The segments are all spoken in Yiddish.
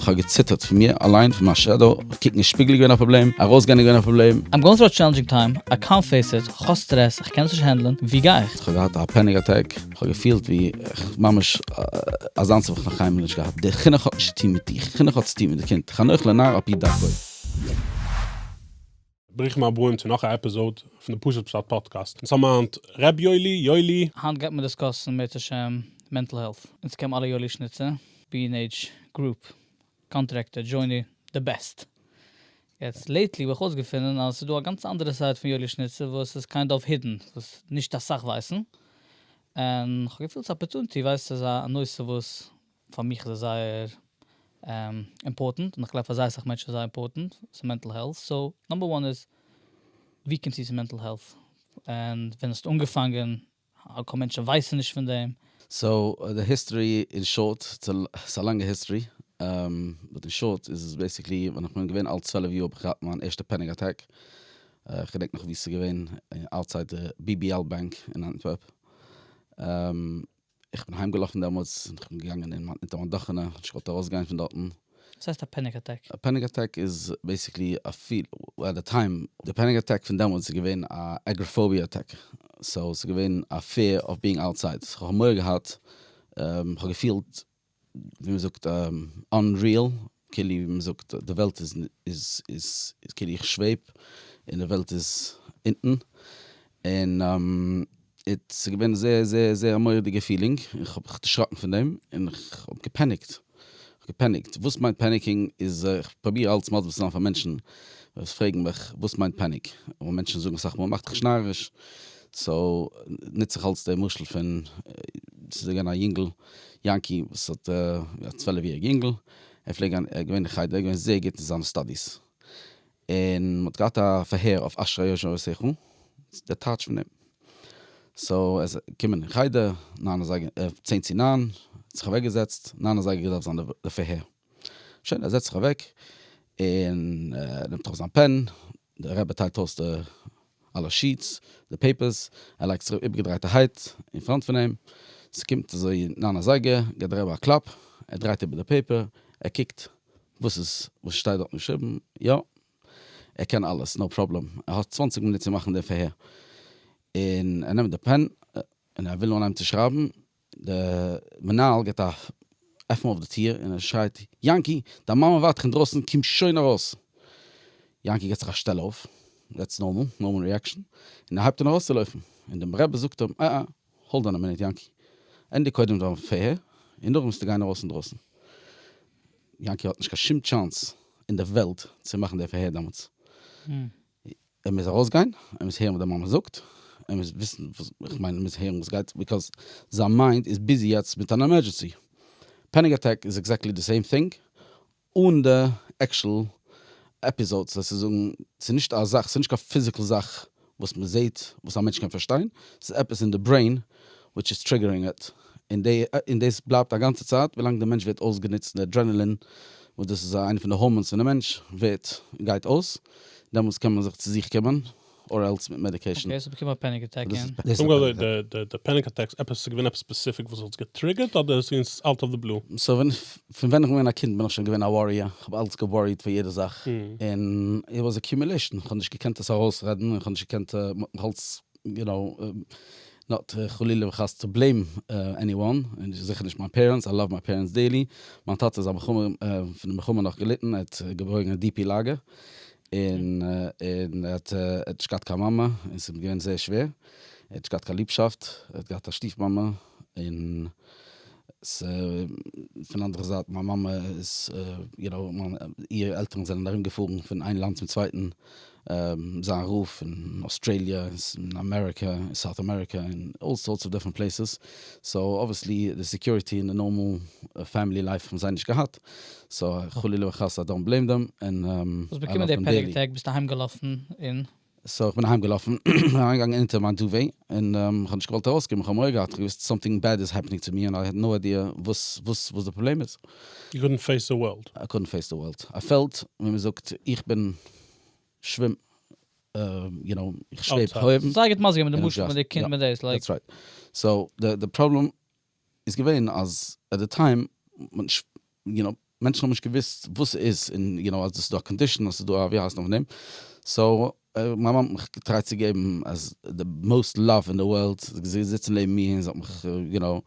כ'האב געציטערט פון מיר אליין, פון מיין שעדאו, קוקן אין שפיגל איז געווען א פראבלעם, ארויסגיין איז געווען א פראבלעם. I'm going through a challenging time, I can't face it, כ'האב סטרעס, איך קען עס נישט הענדלען, ווי גיי איך? כ'האב געהאט א פעניק אטעק, כ'האב געפילט ווי איך ממש אזאנס האב איך נאך קיינמאל נישט געהאט, די חינוך האט נישט צוטון מיט דיך, חינוך האט צוטון מיט די קינד, חנוך לנער על פי דרכו. ברוכים הבאים צו נאך א עפיזאוד פון די פשוט פשט פאדקעסט, אונז האבן היינט ר' יואלי, יואלי. היינט גייט מען דיסקאסן בעזהש השם מענטל העלט, אונז קעמ אלע יואלי שניצע, בי ענד עיטש גרופ, קאנטרעקטער, דזשוני, די בעסט. יעצט לעיטלי האב איך אויסגעפונען אז עס איז דא א גאנץ אנדערע סייט פון יואלי שניצע וואס איז קיינד אוו הידן, וואס נישט אסאך ווייסן, און כ'האב געפילט ס'איז א אפערטונעטי, ווייסט איז א נושא וואס פאר מיך איז עס זייער אימפארטענט, און איך גלייב פאר זייער אסאך מענטשן איז זייער אימפארטענט, ס'איז מענטל העלט, סאו נאמבער וואן איז ווי קומסטו צו מענטל העלט? און ווען האסטו אנגעפאנגען? האלקאו מענטשן ווייסן נישט פון דעם. סאו די היסטארי אין שארט, ס'איז א לאנגע היסטארי, באט אין שארט איז עס בעיסיקלי ווען איך בין געווען אלט צוועלף יאר האב איך געהאט מיין ערשטע פעניק אטעק, איך געדענק נאך ווי ס'איז געווען, אוטסייד די BBL באנק אין אנטווערפ. איך בין אהיימגעלאפן דעמאלטס, איך בין געגאנגען אין מיט מיין דאכענע, איך האב נישט געוואלט ארויסגיין פון דארטן. וואס הייסט א פעניק אטעק? א פעניק אטעק איז בעיסיקלי א פיל, עט די טיים, די פעניק אטעק פון דעמאלטס איז געווען א עגראפאוביע אטעק, סאו ס'איז געווען א פיער אוו ביאינג אוטסייד, איך האב מורא געהאט, איך האב געפילט ווי מ'זאגט אנריעל, כאילו ווי מ'זאגט די וועלט איז איז כאילו איך שוועב און די וועלט איז אונטן, און ס'איז געווען זייער זייער זייער א מורא'דיגע פילינג, איך האב זיך דערשראקן פון דעם און איך האב געפעניקט, געפעניקט, וואס מיינט פעניקינג איז איך פרוביר אלץ מסביר צו זיין פאר מענטשן וואס פרעגן מיך וואס מיינט פעניק, און מענטשן זאגן אסאך מאל מאך דיך נישט נאריש, סאו נוץ איך אלץ די משל פון ס'איז געווען א יונגל יענקי וואס האט א צוועלף יעריג אינגל, ער פלעג גיין געווען אין חדר, ער איז געווען זייער גוט אין זיינע סטאדיס, און מען האט געהאט א פארהער אויף אשרי יושע עושך רע, דער טייטש פון אים, סאו ער איז געקומען אין חדר ניין אזייגער, צען צו ניין, האט זיך אוועק געזעצט, ניין אזייגער געדארפט זיין די פארהער, שוין ער זעצט זיך אוועק, און נעמט ארויס זיין פען, דער רבי טיילט אויס די אלע שיעטס, די פעיפערס, ער לייגט זיך איבערגעדרייטערהייט אין פראנט פון אים, ס'קומט אזוי ניין אזייגער, גיבט דער רבי א קלאפ, ער דרייט איבער די פעיפער, ער קוקט וואס איז וואס שטייט דארטן געשריבן, יא, ער קען אלעס, נאו פראבלעם, ער האט צוואנציג מינוט צו מאכן דעם פארהער, און ער נעמט די פען און ער וויל אנהייבן צו שרייבן, די מנהל געט א עפן אויף די טיר און ער שרייט, יענקי! דיין מאמע ווארט דיך אינדרויסן, קום שוין ארויס! יענקי געט זיך א שטעל אויף, דעטס נארמאל, נארמאל ריעקשאן, און ער הייבט אן ארויסצולויפן, און דעם רבי זאגט אים, עה עה, האלד אן א מינוט יענקי, ענדיג קודם דיין פאה, און נאכדעם וועסטו גיין ארויס אינדרויסן. יענקי האט נישט קיין שום טשאנס אין די וועלט צו מאכן די פאה דעמאלטס. ער מוז ארויסגיין, ער מוז הערן וואס די מאמע זאגט, ער מוז וויסן, איך מיין ער מוז הערן וואס גייט, ביזקאז זיין מיינד איז ביזי יעצט מיט אן עמערדזשענסי. פעניק אטעק איז עקזעקטלי די סעים טינג, אן די עקשול עפיזאדס, דאס איז זאגן, ס'איז נישט א זאך, ס'איז נישט קיין פיזיקל זאך וואס מ'זעהט וואס א מענטש קען פארשטיין, ס'איז עפעס אין די ברעין וויטש איז טריגערינג איט, און דאס בלייבט א גאנצע צייט ווילאנג די מענטש ווערט אויסגענוצט און די אדרענעלין וואס דאס איז איינע פון די הארמאנס פון די מענטש ווערט גייט אויס, דעמאלטס קען מען זיך צו זיך קומען אר עלס מיט מעדיקעישן. אקעי, ס'האט באקומען א פעניק אטעק און. פונקט אזוי די די פעניק אטעקס עפעס ס'געווען עפעס ספעסיפיק וואס האט עס געטריגערט אדער ס'געווען אוט אוו די בלו? סאו ווען פון ווען איך בין געווען א קינד בין איך שוין געווען א וואריער, איך האב אלץ געוואריעט פאר יעדע זאך, און איט וואס אקיומילעישן, איך האב נישט געקענט עס ארויסרעדן, איך האב נישט געקענט, מ'האט מיך אלץ יו נאו, נאט חלילה וחס טו בלעים עני וואן, און זיכער נישט מיין פערענטס, איי לאוו מיי פערענטס דיערלי, מיין טאטע איז א מלחמה, פון די מלחמה נאך געליטן, ער האט געבויגן אין די-פי לאגער, און ער האט נישט געהאט קיין מאמע, און ס'איז אים געווען זייער שווער, ער האט נישט געהאט קיין ליבשאפט, ער האט געהאט א שטיף מאמע, און ס ה פון אנדערע זייט מיין מאמע איז, יו נאו, איר עלטערן זענען ארום געפארן פון איין לאנד צום צווייטן, זיין רוף אין אוסטרעליע אין אמעריקע אין סאוט אמעריקע אין אלל סארטס אוו דיפרענט פלעיסעס, סאו אבוויעסלי די סעקיוריטי און די נארמאל פעמילי לייף האבן זיי נישט געהאט, סאו חלילה וחס איי דאנט בלעים דעם, און איי לאוו דעם דעילי. האסט באקומען די פעניק אטעק ביסט אהיים געלאפן און. סאו כ'בין אהיים געלאפן, אריינגעגאנגען אונטער מיין דובי, און כ'האב נישט געוואלט ארויסקומען, כ'האב מורא געהאט, כ'האב געוואוסט סאמטינג בעד איז העפענינג צו מיר און איי העד נאו איידיע וואס וואס וואס די פראבלעם איז. יו קאדנט פעיס די ווארלד. איי קאדנט פעיס די ווארלד. א פעלד ווי מ'זאגט איך בין. שווים, יו נאו, איך שוועב הויעך. זיי גוט מזגי מיט די משפחה מיט די קינד מיט דאס לייק. דעטס רייט. סאו די פראבלעם איז געווען אז עט די טיים יו נאו מענטשן האבן נישט געוויסט וואס ס'איז און יו נאו אז דאס איז דא א קאנדישן אז ס'איז דא א ווי הייסט נאך פון דעם. סאו מיין מאמע האט מיך געטרייט צו געבן אז די מאוסט לאוו אין די וועלט. זי איז געזעצן זיצן לעבן מיר און זי האט מיך יו נאו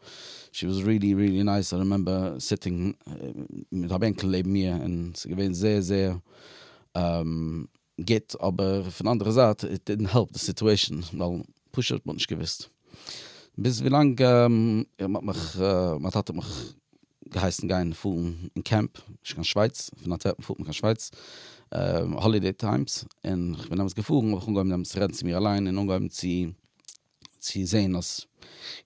שי וואס ריעלי ריעלי נייס. איי רעמעמבער סיטינג מיט א בענקל לעבן מיר און ס'איז געווען זייער זייער. גוט, אבער פון אנדערע זייט איט דידנט העלפ די סיטועשן, ווייל פשוט מ'האט נישט געוואוסט. ביז ווילאנג מ'האט מיך, מיין טאטע האט מיך געהייסן גיין פארן אין קעמפ, נישט קיין שווייץ, פון אנטווערפן פארט מען קיין שווייץ, האלידעי טיימס, און כ'בין דעמאלטס געפארן האב איך אנגעהויבן דעמאלטס רעדן צו מיר אליין און אנגעהויבן צו צו זעהן אז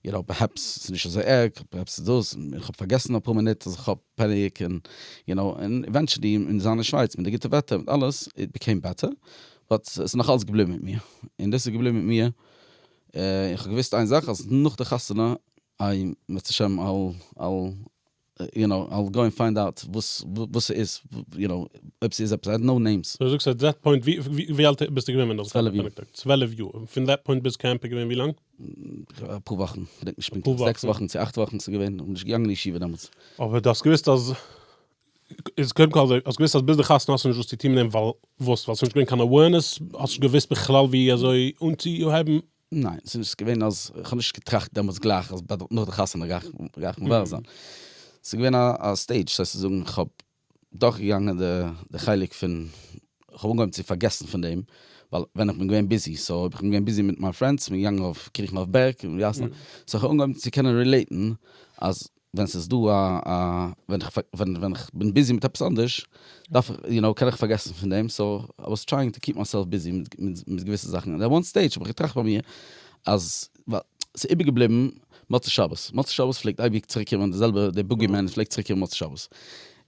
איר האט פערהעפס, ס'איז נישט אזוי ערג, פערהעפס איז דאס, איך האב פארגעסן אפאר מינוט אז איך האב פעניק, און יו נאו, און עווענטשעלי און זיין אין שווייץ מיט די גוטע וועטער מיט אלעס, איט בעקעים בעטער, באט ס'איז נאך אלס געבליבן מיט מיר, און דאס איז געבליבן מיט מיר, און איך האב געוואוסט איין זאך אז נאך די חתונה, איי בעזהשם אל אל. יו נאו, אייל גאו ענד פיינד אוט וואס וואס ס'איז, יו נאו, אויב ס'איז עפעס, נאו נעימס. דו זאגסט עט דעט פוינט, ווי אלט ביסטו געווען ווען דו האסט צוועלף יאר. אנגעקלאגט? צוועלף יאר. און פון דעט פוינט ביז קעמפ איז געווען ווי לאנג? אפאר וואכן, כ'דענק נישט פונקטליך, אפאר זעקס וואכן. וואכן צו אכט וואכן איז געווען, כ'בין נישט געגאנגען אין ישיבה דעמאלטס. אבער דו האסט געוואוסט אז, איז קודם כל האסט געוואוסט אז ביז די חתונה האסטו נישט וואס צו טון מיט דעם ווייל וואס? ווייל ס'נישט געווען קיין אווערנעס? האסט נישט געוואוסט בכלל ווי אזוי אנצוהייבן ניין, ס'איז נישט געווען אז, כ'האב נישט געטראכט דעמאלטס גלייך אז נאך די חתונה גיי איך מברר זיין. ס'איז געווען א סטעידזש, ס'הייסט צו זאגן כ'האב דורכגעגאנגען די חלק פון, כ'האב אנגעהויבן צו פארגעסן פון דעם, ווייל ווען איך בין געווען ביזי, סאו אויב איך בין געווען ביזי מיט מיין פרענדס, מ'איז געגאנגען אויף קריכן אויף בערג, סאו כ'האב אנגעהויבן צו קענען רילעיטן אז ווען ס'איז דא א א ווען איך ווען איך בין ביזי מיט עפעס אנדערש דארף איך יו נאו קען איך פארגעסן פון דעם סאו איי וואס טרייאינג טו קיפ מיי-סעלף ביזי מיט געוויסע זאכן און וואן סטעידזש האב איך געטראכט ביי מיר אז ווייל ס'איז איבערגעבליבן מוצאי שבת, מוצאי שבת פלעגט אייביג צוריקקומען די זעלבע די בוגי מען פלעגט צוריקקומען מוצאי שבת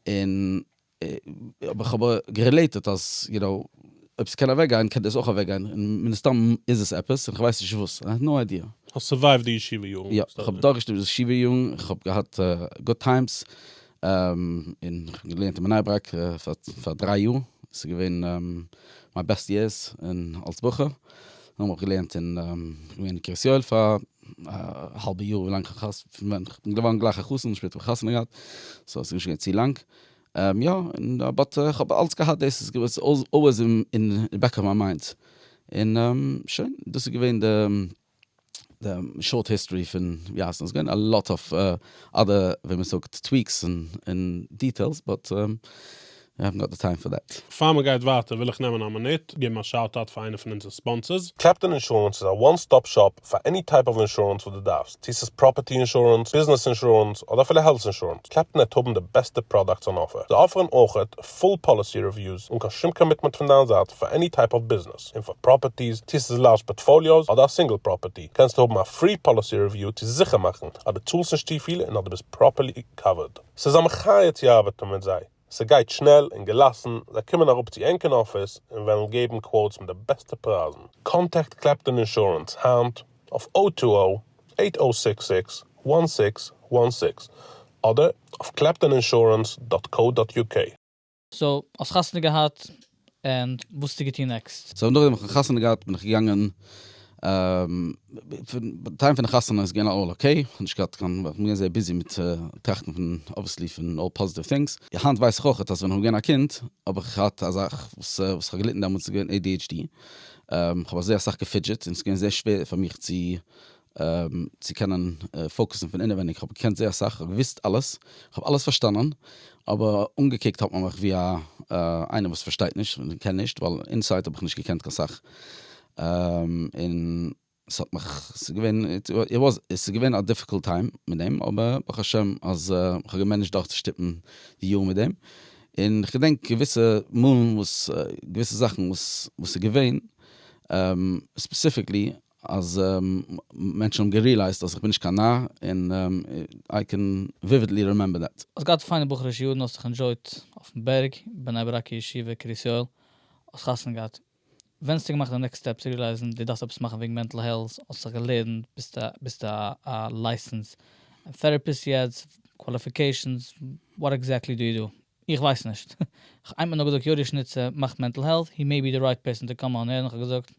און אבער כ'האב גערילעיטעד אז יו נאו, אויב ס'קען אוועק גיין קען דאס אויך אוועק גיין, און מן הסתם איז עס עפעס, און כ'ווייס נישט וואס, איי האב נאו איידיע. האסט סורווייווט די ישיבה יארן. יא, איך האב דורכגעשלעפט די ישיבה יארן, איך האב געהאט גוד טיימס, און כ'האב געלערנט אין בני ברק פאר דריי יאר, ס'איז געווען מיין בעסט יערס אלס בחור, נאכדעם האב איך געלערנט אין, כ'בין געווען אין קרית יואל פאר א האלבע יאר, ווילאנג כ'בין געווארן גלייך א חתן, שפעטער האב איך חתונה געהאט, סאו ס'איז נישט געווען צו לאנג. יא, באט כ'האב אלץ געהאט דאס, עס איז אלוועיס אין די בעק אוו מיי מיינד, און שוין, דאס איז געווען די די שארט היסטארי פון ווי הייסט נאך, עס איז געווען א לאט אוו אדער ווי מען זאגט טוויקס און דיטעילס באט וויי האווען גאט די טיים פאר דעט. פאר מען גייט ווייטער וויל איך נעמען א מינוט געבן א שאוט אוט פאר איינע פון אונזערע ספאנסערס. קעפטען אינשורענס איז א וואן סטאפ שאפ פאר עני טייפ אוו אינשורענס וואס דו דארפסט, צו ס'איז פראפערטי אינשורענס, ביזנעס אינשורענס, אדער אפילו העלט אינשורענס, קלעפטאנעט האבן די בעסטע פראדאקטס אן אפער. זיי אפערן אויכעט פול פאליסי רעוויוס אן קיין שום קאמיטמענט פון דיין זייט פאר עני טייפ אוו ביזנעס, און פאר פראפערטיס, צו ס'איז לארזש פארטפאליאוס אדער א סינגל פראפערטי, קענסטו האבן א פרי פאליסי רעוויו צו זיכער מאכן אז דו צאלסט נישט צופיל און אז דו ביסט פראפערלי קאווערד. ס'איז א מחיה צו ארבעטן מיט זיי. ס'גייט שנעל און געלאסן, זיי קומען אראפ צו ענקערן אפיס און וועלן געבן קוואוטס מיט די בעסטע פרייזן. קאנטעקט קלעפטאן אינשורענס היינט אויף או טו או אייט או זיקס זיקס וואן זיקס וואן זיקס אדער אויף קלעפטאן אינשורענס דאט קאו דאט יו קעי. סאו האסט חתונה געהאט? און וואס האסטו געטון נעקסט? סאו נאכדעם האב איך חתונה געהאט בין איך געגאנגען פון די טיים פון די חתונה איז געווען אלל אקעי, כ'האב נישט געהאט קיין כ'בין געווען זייער ביזי מיט טראכטן פון אבוויעסלי פון אלל פאזיטיוו טינגס, היינט ווייס איך אויכעט אז ווען כ'בין געווען א קינד האב איך געהאט א זאך וואס וואס כ'האב געליטן דעמאלטס איז געווען adhd, כ'האב זייער אסאך געפידזשעט און ס'איז געווען זייער שווער פאר מיך צו צו קענען פאוקעסן פון אינעווייניג, כ'האב געקענט זייער אסאך, כ'האב געוואוסט אלעס, כ'האב אלעס פארשטאנען, אבער אנגעקוקט האט מען מיך ווי א איינער וואס פארשטייט נישט און קען נישט, ווייל אינסייד האב איך נישט געקענט קיין סאך, און ס'האט מיך, ס'איז געווען, איט וואזנט, ס'איז געווען א דיפיקולט טיים מיט דעם, אבער ברוך השם אז כ'האב געמענעדזשט דורכצושטופן די יאר מיט דעם, און כ'געדענק געוויסע מאלן וואס, געוויסע זאכן וואס איז געווען, ספעסיפיקלי אז מענטשן האבן גערילייזט אז איך בין נישט קיין נאר, און איי קען וויווידלי רימעמבער דעט. האסט געהאט פיינע בחור'ישע יארן, האסט זיך ענדשויט אויפן בערג, בני ברק'ע ישיבה, קרית יואל, האסט חתונה געהאט, ווענסטו געמאכט די נעקסט סטעפ צו רילייזן דו דארפסט עפעס מאכן וועגן מענטל העלט, האסט זיך געלערנט, ביסטו ביסטו א לייסענס טעראפיסט יעצט, קוואליפיקעישאנס, וואט עקזעקטלי דו יו דא? איך ווייס נישט. כ'האב איינמאל נאר געזאגט יואלישניצער מאכט מענטל העלט, הי מעי בי די רייט פערסאן טו קאם אן הערן, כ'האב געזאגט.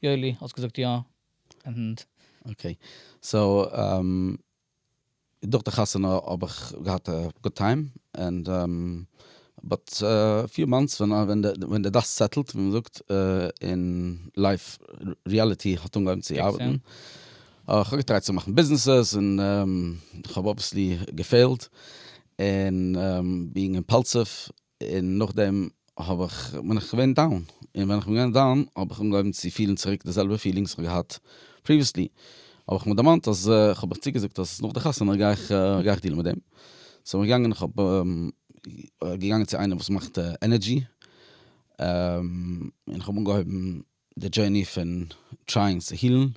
יואלי, האסט געזאגט יא, ענד. אקעי, סאו דורך די חתונה האב איך געהאט א גוד טיים, ענד באט פיו מאנטס ווען די דאסט סעטעלט ווי מען זאגט, און לייף ריעליטי האט אנגעהויבן צו ארבעטן, איך האב געטרייט צו מאכן ביזנעסעס און איך האב אבוויעסלי געפעילט, און בינג אימפאלסיוו און נאכדעם האב איך בין איך געווען דאון, און ווען איך בין געווען דאון האב איך אנגעהויבן צו פילן צוריק די זעלבע פילינגס וואס איך האב געהאט פריוויעסלי, האב איך מיר דערמאנט אז איך האב מיך צוגעזאגט אז נאך די חתונה גיי איך גיי איך דילן מיט דעם, סאו בין איך געגאנגען איך האב געגאנגען צו איינער וואס מאכט ענערדזשי, און איך האב אנגעהויבן די דזשערני פון טרייען צו הילן,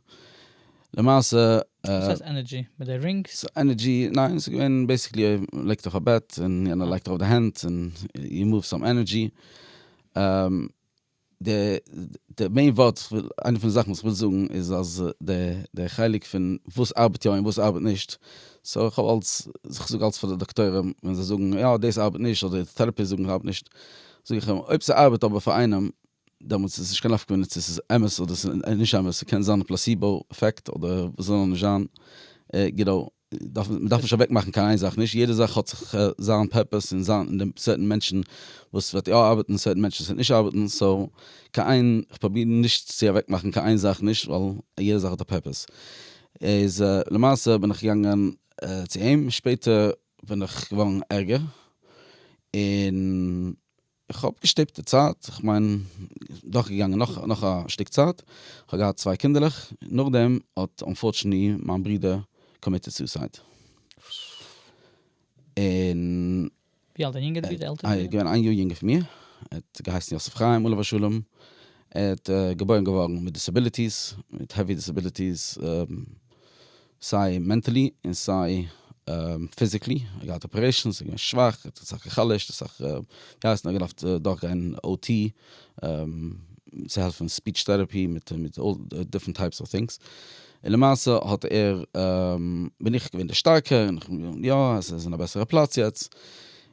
למעשה. וואס הייסט ענערדזשי? מיט די רינגס? ס'איז ענערדזשי, ניין ס'איז געווען בעיסיקלי מ'לייגט אויף א בעט און יענער לייגט ארויף די הענט און יו מאוו סאם ענערדזשי. די מעין ווארט, איינע פון די זאכן וואס כ'וויל זאגן איז אז די חלק פון וואס ארבעט יא און וואס ארבעט נישט, סאו כ'האב אלץ, כ'זאג אלץ פאר די דאקטוירים ווען זיי זאגן יא דאס ארבעט נישט אדער די טעראפיסט זאגן ס'ארבעט נישט, זאג איך אים אויב ס'ארבעט אבער פאר איינעם דעמאלטס איז נישט קיין נפק מ צו עס איז אמת אדער עס איז נישט אמת, ס'קען זיין פלאסיבא עפעקט אדער וואס זאל נאר נישט זיין, געדא, מען דארף נישט אוועק מאכן קיין איין זאך, נישט יעדע זאך האט זיך זיין פערפעס און זיין די סערטען מענטשן וואס ס'וועט יא ארבעטן און סערטען מענטשן וואס ס'וועט נישט ארבעטן, סאו קיין איין, איך פראביר נישט צו אוועק מאכן קיין איין זאך נישט ווייל יעדע זאך האט א פערפעס, איז למעשה בין איך געגאנגען צו אים, שפעטער בין איך געווארן ערגער און. איך האב געשטופט די צייט, איך מיין דורכגעגאנגען נאך נאך א שטיק צייט, איך האב געהאט צוויי קינדערלעך, נאכדעם האט אנפארטשענלי מיין ברודער קאמיטעד סוסייד. און. ווי אלט דיין יונגער ברודער? עלטערע ברודער? ער איז געווען איין יאר יונגער פון מיר, ער האט געהייסן יוסף חיים עליו השלום, ער האט געבוירן געווארן מיט דיסעביליטיס, מיט העווי דיסעביליטיס, סיי מענטעלי און סיי פיזיקלי, ער האט געהאט אפערעישאנס, ער איז געווען שוואך, ער האט אסאך גע'חלש'ט, אסאך ווי הייסט נאר געדארפט דורכגיין או טי צו העלפן ספיטש טעראפי מיט דיפרענט טייפס אוו טינגס, און למעשה האט ער, בין איך געווען די שטארקע, און איך בין געווען יא עס איז אין א בעסערע פלאץ יעצט,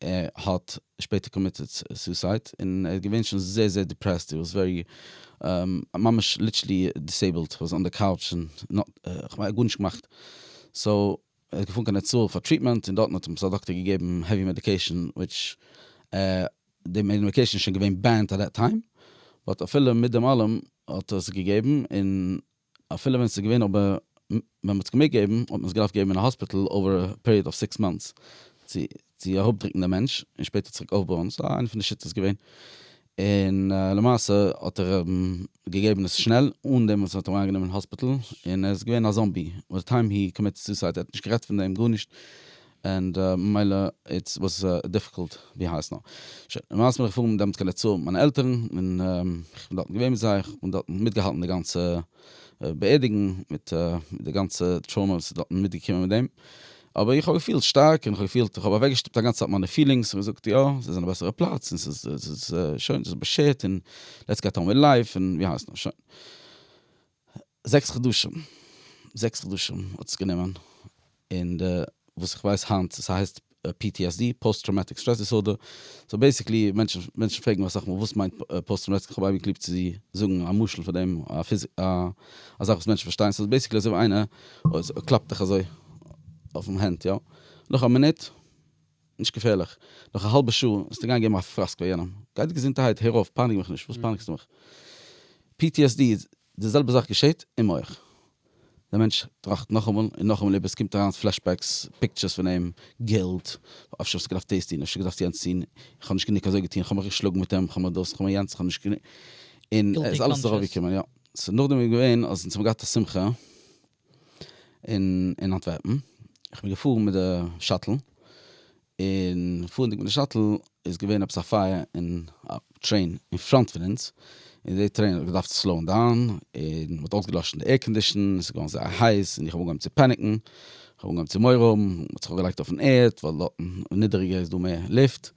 ער האט שפעטער קאמיטעד סוסייד און ער איז געווען שוין זייער זייער דיפרעסט, הי וואס ווערי ממש ליטשלי דיסעיבלד, וואס אן די קאוטש און נאט כמעט גארנישט געמאכט, סאו ער איז געפארן קיין נצור פאר טריטמענט און דארטן האט אים א דאקטער געגעבן העווי מעדיקעישן וויטש די מעדיקעישן איז שוין געווען בענד עט דעט טיים באט אפילו מיט דעם אלעם האט ער עס געגעבן און אפילו ווען ס'איז געווען אבער ווען מ'האט עס געמעגט געבן האט מען עס געדארפט געבן אין א האספיטעל אווער א פעריעד אוו סיקס מאנטס צו צו אראפדרוקן דעם מענטש און שפעטער צוריק אויפבויען סאיז איינע פון די שיטות געווען און למעשה האט ער געגעבן עס שנעל אן דעם וואס מ'האט אים אריינגענומען אין האספיטעל און ער איז געווען א זאמבי ביי די טיים הי קאמיטעד סוסייד ער האט נישט גערעדט פון דעם גארנישט. ענד ממילא איטס וואס דיפיקולט ווי הייסט נאר. שוין, למעשה בין איך געפארן דעמאלטס קיין נצור מיט מיינע עלטערן, און איך בין דארטן געווען מיט זיי, איך בין דארטן מיטגעהאלטן די גאנצע באערדיגונג, מיט די גאנצע טראומא וואס איז דארטן מיטגעקומען מיט דעם, אבער איך האב געפילט שטארק, און איך האב געפילט, איך האב אוועקגעשטופט א גאנצע צייט מיינע פילינגס, איך האב געזאגט יא, עס איז אין א בעסערע פלאץ, און עס איז שוין, עס איז באשערט, און לעטס געט אן וויט לייף, און ווי הייסט נאר, שוין. זעקס חדשים, זעקס חדשים האט עס גענומען, און די וואס איך ווייס היינט ס'הייסט PTSD, פאוסט טראומאטיק סטרעס דיסארדער, סאו בעיסיקלי מענטשן, מענטשן פרעגן מיר אסאך מאל וואס מיינט פאוסט טראומאטיק, כ'האב אייביג ליב צו זאגן א משל פאר דעם, א פיז, א א זאך וואס מענטשן פארשטייען, ס'איז בעיסיקלי אזוי ווי איינער קלאפט דיך אזוי אויפן הענט יא, נאך א מינוט. נישט געפערליך. נאך א האלבע שעה וועסטו גיין געבן א פראסק פאר יענעם. גייט געזונטערהייט, הער אויף, פייניג מיך נישט. וואס פייניגסטו מיך? PTSD איז, די זעלבע זאך געשעט אין מח. דער מענטש טראכט נאכאמאל און נאכאמאל איבער, עס קומט אריין פלעשבעקס, פיקטשערס פון אים, גילט, אפשר וואלסטו געדארפט דאס טון, אפשר געדארפט יענץ טון, איך האב נישט גענוג אזוי געטון, איך האב מיך געשלאגן מיט אים, איך האב מיך דאס, איך האב מיך יענץ, איך האב נישט גענוג. און עס איז אלעס ארויפגעקומען, יא. סאו נאכדעם איז געווען אז אונז האבן געהאט א שמחה. אין אנטווערפן, איך בין געפארן מיט די שאטל, און פארנדיג מיט די שאטל איז געווען עפעס א פייער אין א טרעין אין פראנט פון אונז, און די טרעין האט געדארפט סלאון דאון, און מען האט אויסגעלאשן די עיר קאנדישן, עס איז געווארן זייער הייס, און איך האב אנגעהויבן צו פעניקן, איך האב אנגעהויבן צו מורא האבן, מען האט זיך אויפגעלייגט אויפן ערד, ווייל דארטן נידעריגער איז דא מער לופט,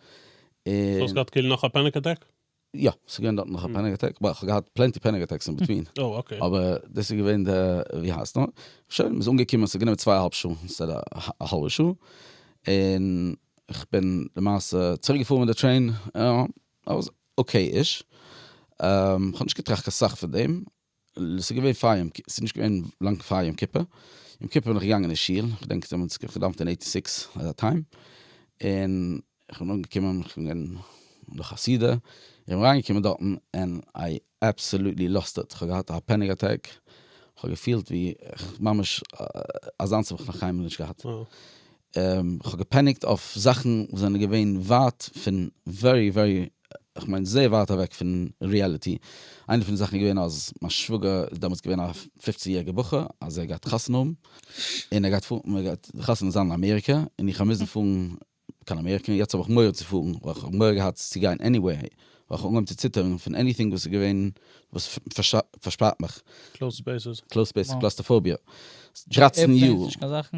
און. זאלסט גאט קילן נאך א פעניק אטעק? יא, ס'איז געווען דארט נאך א פעניק אטעק, בה, כ'האב געהאט פלענטי פעניק אטעקס אין בעטווין, אבער דאס איז געווען די, ווי הייסט נאר, שוין, מ'איז אנגעקומען, ס'האט גענומען צוויי אהאלב שעה, אינשטעד א האלבע שעה, און כ'בין למעשה צוריק געפארן מיט די טרעין, אוקיי-איש, כ'האב נישט געטראכט קיין סאך פון דעם, ס'איז געווען פאר יום כיפור, ס'איז נישט געווען לאנג פאר יום כיפור, יום כיפור בין איך געגאנגען אין שול, איך געדענק זיי האבן אונז געדאוונט אין עיטי סיקס אזא טיים, און איך בין אנגעקומען, איך בין געווען נאך א סעודה, איך בין אריינגעקומען דארטן ענד איי עבסעלוטלי לאסט איט, כ'האב געהאט א פעניק אטעק, כ'האב געפילט ווי איך ממש אזאנס האב איך נאך קיינמאל נישט געהאט, כ'האב געפעניקט אויף זאכן וואס זענען געווען ווייט פון ווערי ווערי איך מיין זייער ווייט אוועק פון ריעליטי. איינע פון די זאכן איז געווען אז מיין שוואגער איז דעמאלטס געווען א פופצן יעריגע בחור אז ער האט געהאט חתונה האבן און ער גייט פארן מען גייט חתונה זיין אין אמעריקע און איך האב מוזן פארן קיין אמעריקע און יעצט האב איך מורא צו פארן ווייל איך האב מורא געהאט צו גיין עניוועי ווייל איך האב אנגעהויבן צו ציטערן פון עניטינג וואס איז געווען וואס פארשפארט מיך. קלאוזד ספעיסעס. קלאוזד ספעיסעס, קלאסטראפאוביע. דרײַצן יאר. עירפלעינס נישט קיין זאכן?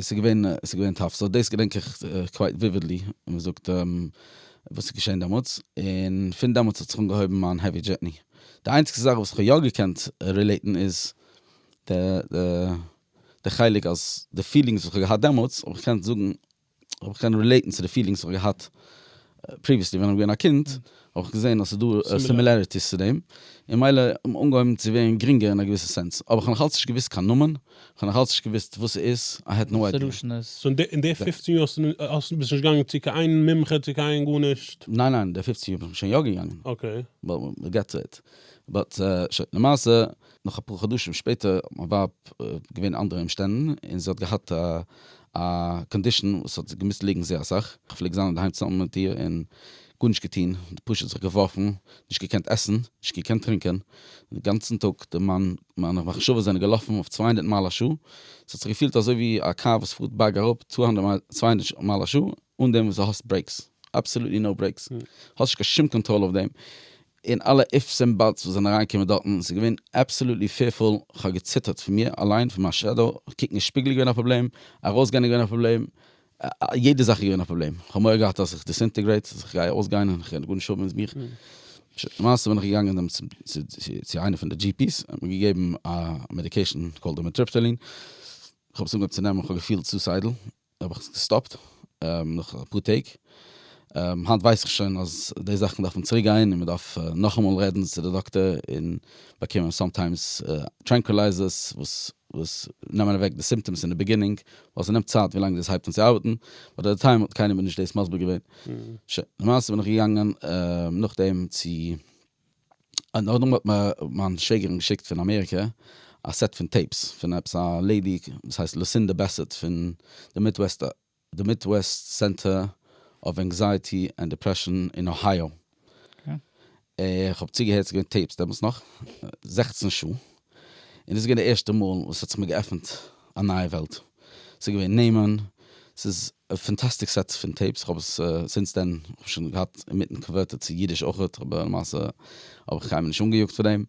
ס'איז געווען ס'איז געווען טאף, סאו דאס געדענק איך קווייט וויווידלי ווי מ'זאגט וואס איז געשען דעמאלטס, און פון דעמאלטס האט זיך אנגעהויבן מיין העווי דזשערני. די איינציגסטע זאך וואס איך האב יא געקענט רילעיטן איז די די חלק אז די פילינגס וואס איך האב געהאט דעמאלטס האב איך געקענט זאגן אויב איך קען רילעיטן צו די פילינגס וואס איך האב געהאט פריוויעסלי ווען איך בין געווען א קינד, האב איך געזען אז ס'דא סימילעריטיס צו דעם, און מילא אנגעהויבן צו ווערן גרינגער אין א געוויסע סענס, אבער איך האב נאכאלץ נישט געוואוסט קיין נאמען, איך האב נאכאלץ נישט געוואוסט וואס ס'איז, איי העד נאו איידיע. סאו אין די פופצן יאר האסטו ביסט נישט געגאנגען צו קיין איין מומחה צו קיין גארנישט? ניין ניין, די פופצן יאר בין איך שוין יא געגאנגען, אקעי. באט וויל געט טו איט, באט שוין למעשה נאך אפאר חדשים שפעטער האט מיין ווייב געווען אנדערע אומשטענדן און זי האט געהאט א קאנדישאן וואס האט געמוזט ליגן זייער אסאך, איך פלעג זיין אינדערהיים צוזאמען מיט איר און גארנישט געטון, פשוט זיך געווארפן, נישט געקענט עסן, נישט געקענט טרינקען, די גאנצן טאג, די מיין מיינע מחשבות זענען געלאפן אויף צוויי הונדערט מייל א שעה, עס האט זיך געפילט אזוי ווי א קאר וואס פארט בארג אראפ צוויי הונדערט מייל א שעה אן דעם וואס די האסט ברעיקס, אבסעלוטלי נאו ברעיקס, האסט נישט קיין שום קאנטראל אויף דעם, און אלע איפס און באטס וואס זענען אריינגעקומען דארטן, ס'איז געווען אבסאלוטלי פיערפול, כ'האב געציטערט פון מיר אליין, פון מיין שעדאו, קוקן אין שפיגל איז געווען א פראבלעם, ארויסגיין איז געווען א פראבלעם, יעדע זאך איז געווען א פראבלעם, כ'האב מורא געהאט אז איך דיסאינטעגרעיט, אז כ'גיי ארויסגיין און כ'וועל גארנישט האבן אין מיך, למעשה בין איך געגאנגען דעם צו איינע פון די דזשי פי'ס, ער האט מיר געגעבן א מעדיקעישן קאלד רימיטריפטעלין, כ'האב עס אנגעהויבן צו נעמען, כ'האב געפילט סוסיידל, האב איך עס געסטאפט נאך אפאר טעג, היינט ווייס איך שוין אז די זאכן דארפן צוריק גיין און מען דארף נאכאמאל רעדן צו די דאקטער און באקומען סאמטיימס טרענקולייזערס וואס וואס נעמען אוועק די סימפטאמס אין די ביגינינג ווייל ס'נעמט צייט ווי לאנג דאס הייבט אן צו ארבעטן, באט עט די טיים האט קיינער מיר נישט דאס מסביר געווען, שוין למעשה בין איך געגאנגען נאכדעם צו און נאכדעם האט מיר מיין שוועגערין געשיקט פון אמעריקע א סעט פון טעיפס פון עפעס א לעידי וואס הייסט לוסינדע בעסעט פון די מידוועסט סענטער אוו ענקזייעטי ענד דיפרעשאן אין אוהייאו, איך האב צוגעהערט ס'איז געווען טעיפס דעמאלטס נאך, זעכצן שעה, און דאס איז געווען די ערשטע מאל וואס ס'האט זיך מיר געעפנט א נייע וועלט. ס'איז געווען נעמען, ס'איז א פאנטאסטיק סעט פון טעיפס, איך האב עס זינט דען שוין געהאט אינמיטן קאנווערטעד צו אידיש אויכעט, אבער למעשה האב איך קיינמאל נישט אנגעיאגט פאר דעם,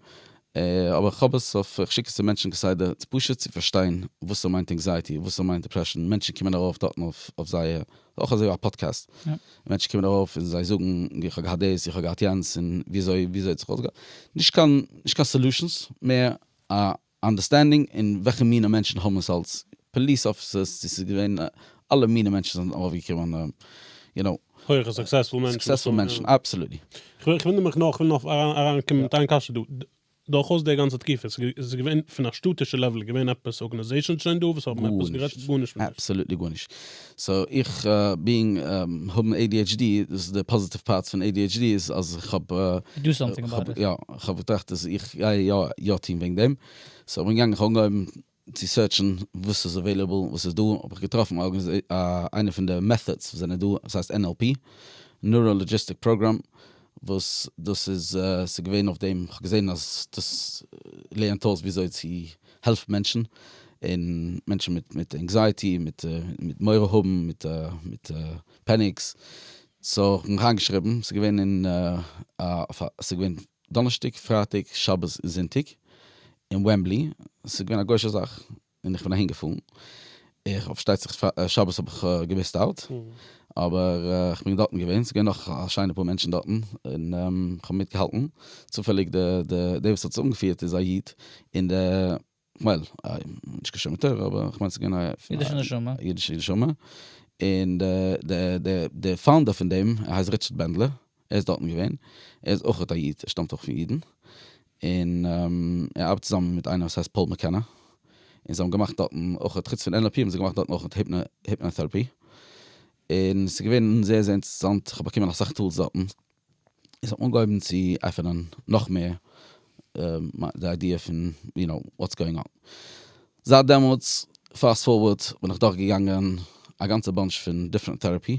אבער איך האב עס אויף, איך שיק עס צו מענטשן כסדר, פשוט צו פארשטיין וואס ס'מיינט ענקזייעטי, וואס ס'מיינט דעפרעשאן, מענטשן קומען ארויף דארטן אויף זייער אויך אזוי א פאדקעסט, מענטשן קומען ארויף און זיי זאגן ווי איך האב געהאט דאס, איך האב געהאט יענץ, און וויאזוי וויאזוי האט זיך אויסגעהאט, נישט קיין נישט קיין סעלושענס, מער א אנדערסטענדינג און וועלכע מיני מענטשן האבן עס אלס פאליס אפיסערס, צו ס'איז געווען אלע מיני מענטשן זענען ארויפגעקומען, יו נאו. הויכע סוקסעספול מענטשן. סוקסעספול מענטשן, אבסעלוטלי. כ'וויל נאר מיך נאר, כ'וויל נאר אריינקומען מיט איין קשיא דא. דורכאויס די גאנצע תקופה, עס איז געווען פון א שטאטישע לעוועל, איז געווען עפעס ארגענעזעישאנס שוין דא וואס האבן עפעס גערעדט? גארנישט. גארנישט. אבסאלוטלי גארנישט. סאו איך בינג האבן adhd, דאס איז די פאזיטיוו פארט פון adhd איז אז איך האב, You do something about it. יא, איך האב געטראכט אז איך גיי יא יא טון וועגן דעם, סאו איך בין געגאנגען איך האב אנגעהויבן צו סערטשן וואס איז עוועילעבל, וואס איז דא, האב איך געטראפן א איינע פון די מעטהאדס וואס זענען דא, עס הייסט NLP, Neuro Logistic Program, וואס דאס איז, ס'איז געווען אויף דעם, כ'האב געזען אז דאס לערנט אויס ווי אזוי צו העלפן מענטשן, און מענטשן מיט מיט ענקזייעטי, מיט מיט מורא האבן, מיט מיט פעניקס, סאו כ'בין אריינגעשריבן, ס'איז געווען אין א, ס'איז געווען דאנערשטאג, פרייטאג, שבת און זונטאג אין וועמבלי, ס'איז געווען א גוי'שע זאך און איך בין אהין געפארן, איך האב פארשטייט זיך שבת האב איך געמיסט אוט, אבער איך בין דארטן געווען, ס'איז געווען נאך א שיינע פאר מענטשן דארטן, און איך האב מיטגעהאלטן, צופעליג די וואס האט עס אנגעפירט איז א איד, און די. ווייל נישט קיין שמד תורה אבער כ'מיין ס'איז געווען א אידישע נשמה אידישע נשמה און די פאונדער פון דעם ער הייסט ריטשערד בענדלער ער איז דארטן געווען ער איז אויך א איד ער שטאמט אויך פון אידן און ער ארבעט צוזאמען מיט איינער וואס הייסט פאול מעקענא און זיי האבן געמאכט דארטן אויך חוץ פון NLP האבן זיי געמאכט דארטן אויך היפנא טערעפי און ס'איז געווען זייער זייער אינטערעסאנט כ'האב באקומען אסאך טולס דארטן. איז האט מען אנגעהויבן צו עפענען נאך מער די איידיע פון יו נאו וואטס גאוינג אן. זייט דעמאלטס פאסט פארווארד בין איך דורך געגאנגען א גאנצע באנטש פון דיפרענט טעראפי,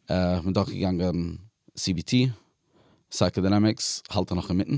איך בין דורך געגאנגען cbt, סייקאדינעמיקס, האלט נאך אינמיטן.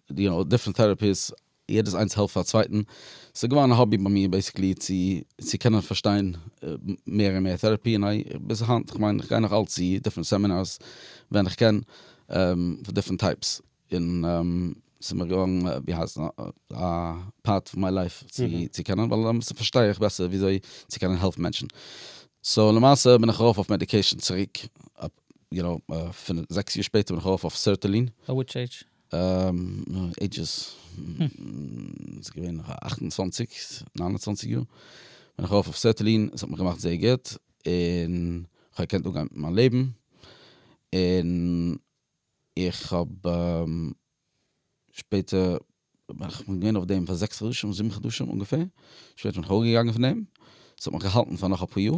די האט דיפרענט טעראפיס, יעדעס איינס העלפט פאר צווייטן, ס'איז געווארן א האבי ביי מיר בעיסיקלי צו צו קענען פארשטיין מער און מער טעראפי, און איי ביז היינט, כ'מיין איך גיי נאך אלץ צו דיפרענט סעמינארס ווען איך קען, פון דיפרענט טייפס, און ס'איז מיר געווארן ווי הייסט עס א פארט פון מיי לייף צו צו קענען, ווייל למעשה פארשטיי איך בעסער ווי אזוי צו קענען העלפן מענטשן, סאו למעשה בין איך ארויף אויף מעדיקעישן צוריק, יו נאו, פון זעקס יאר שפעטער בין איך ארויף אויף סערטעלין. וויטש עידזש עידזשעס, ס'איז געווען נאך א אַכט און צוואַנציק, ניין און צוואַנציק יאר, בין איך ארויף אויף סעטילין, עס האט מיך געמאכט זייער גוט, און כ'האב געקענט אנגיין מיט מיין לעבן, און איך האב שפעטער, כ'בין געווען אויף דעם פאר זעקס חדשים, זיבן חדשים אנגעפער, שפעטער בין איך אוועקגעגאנגען פון דעם, עס האט מיך געהאלטן פאר נאך אפאר יאר,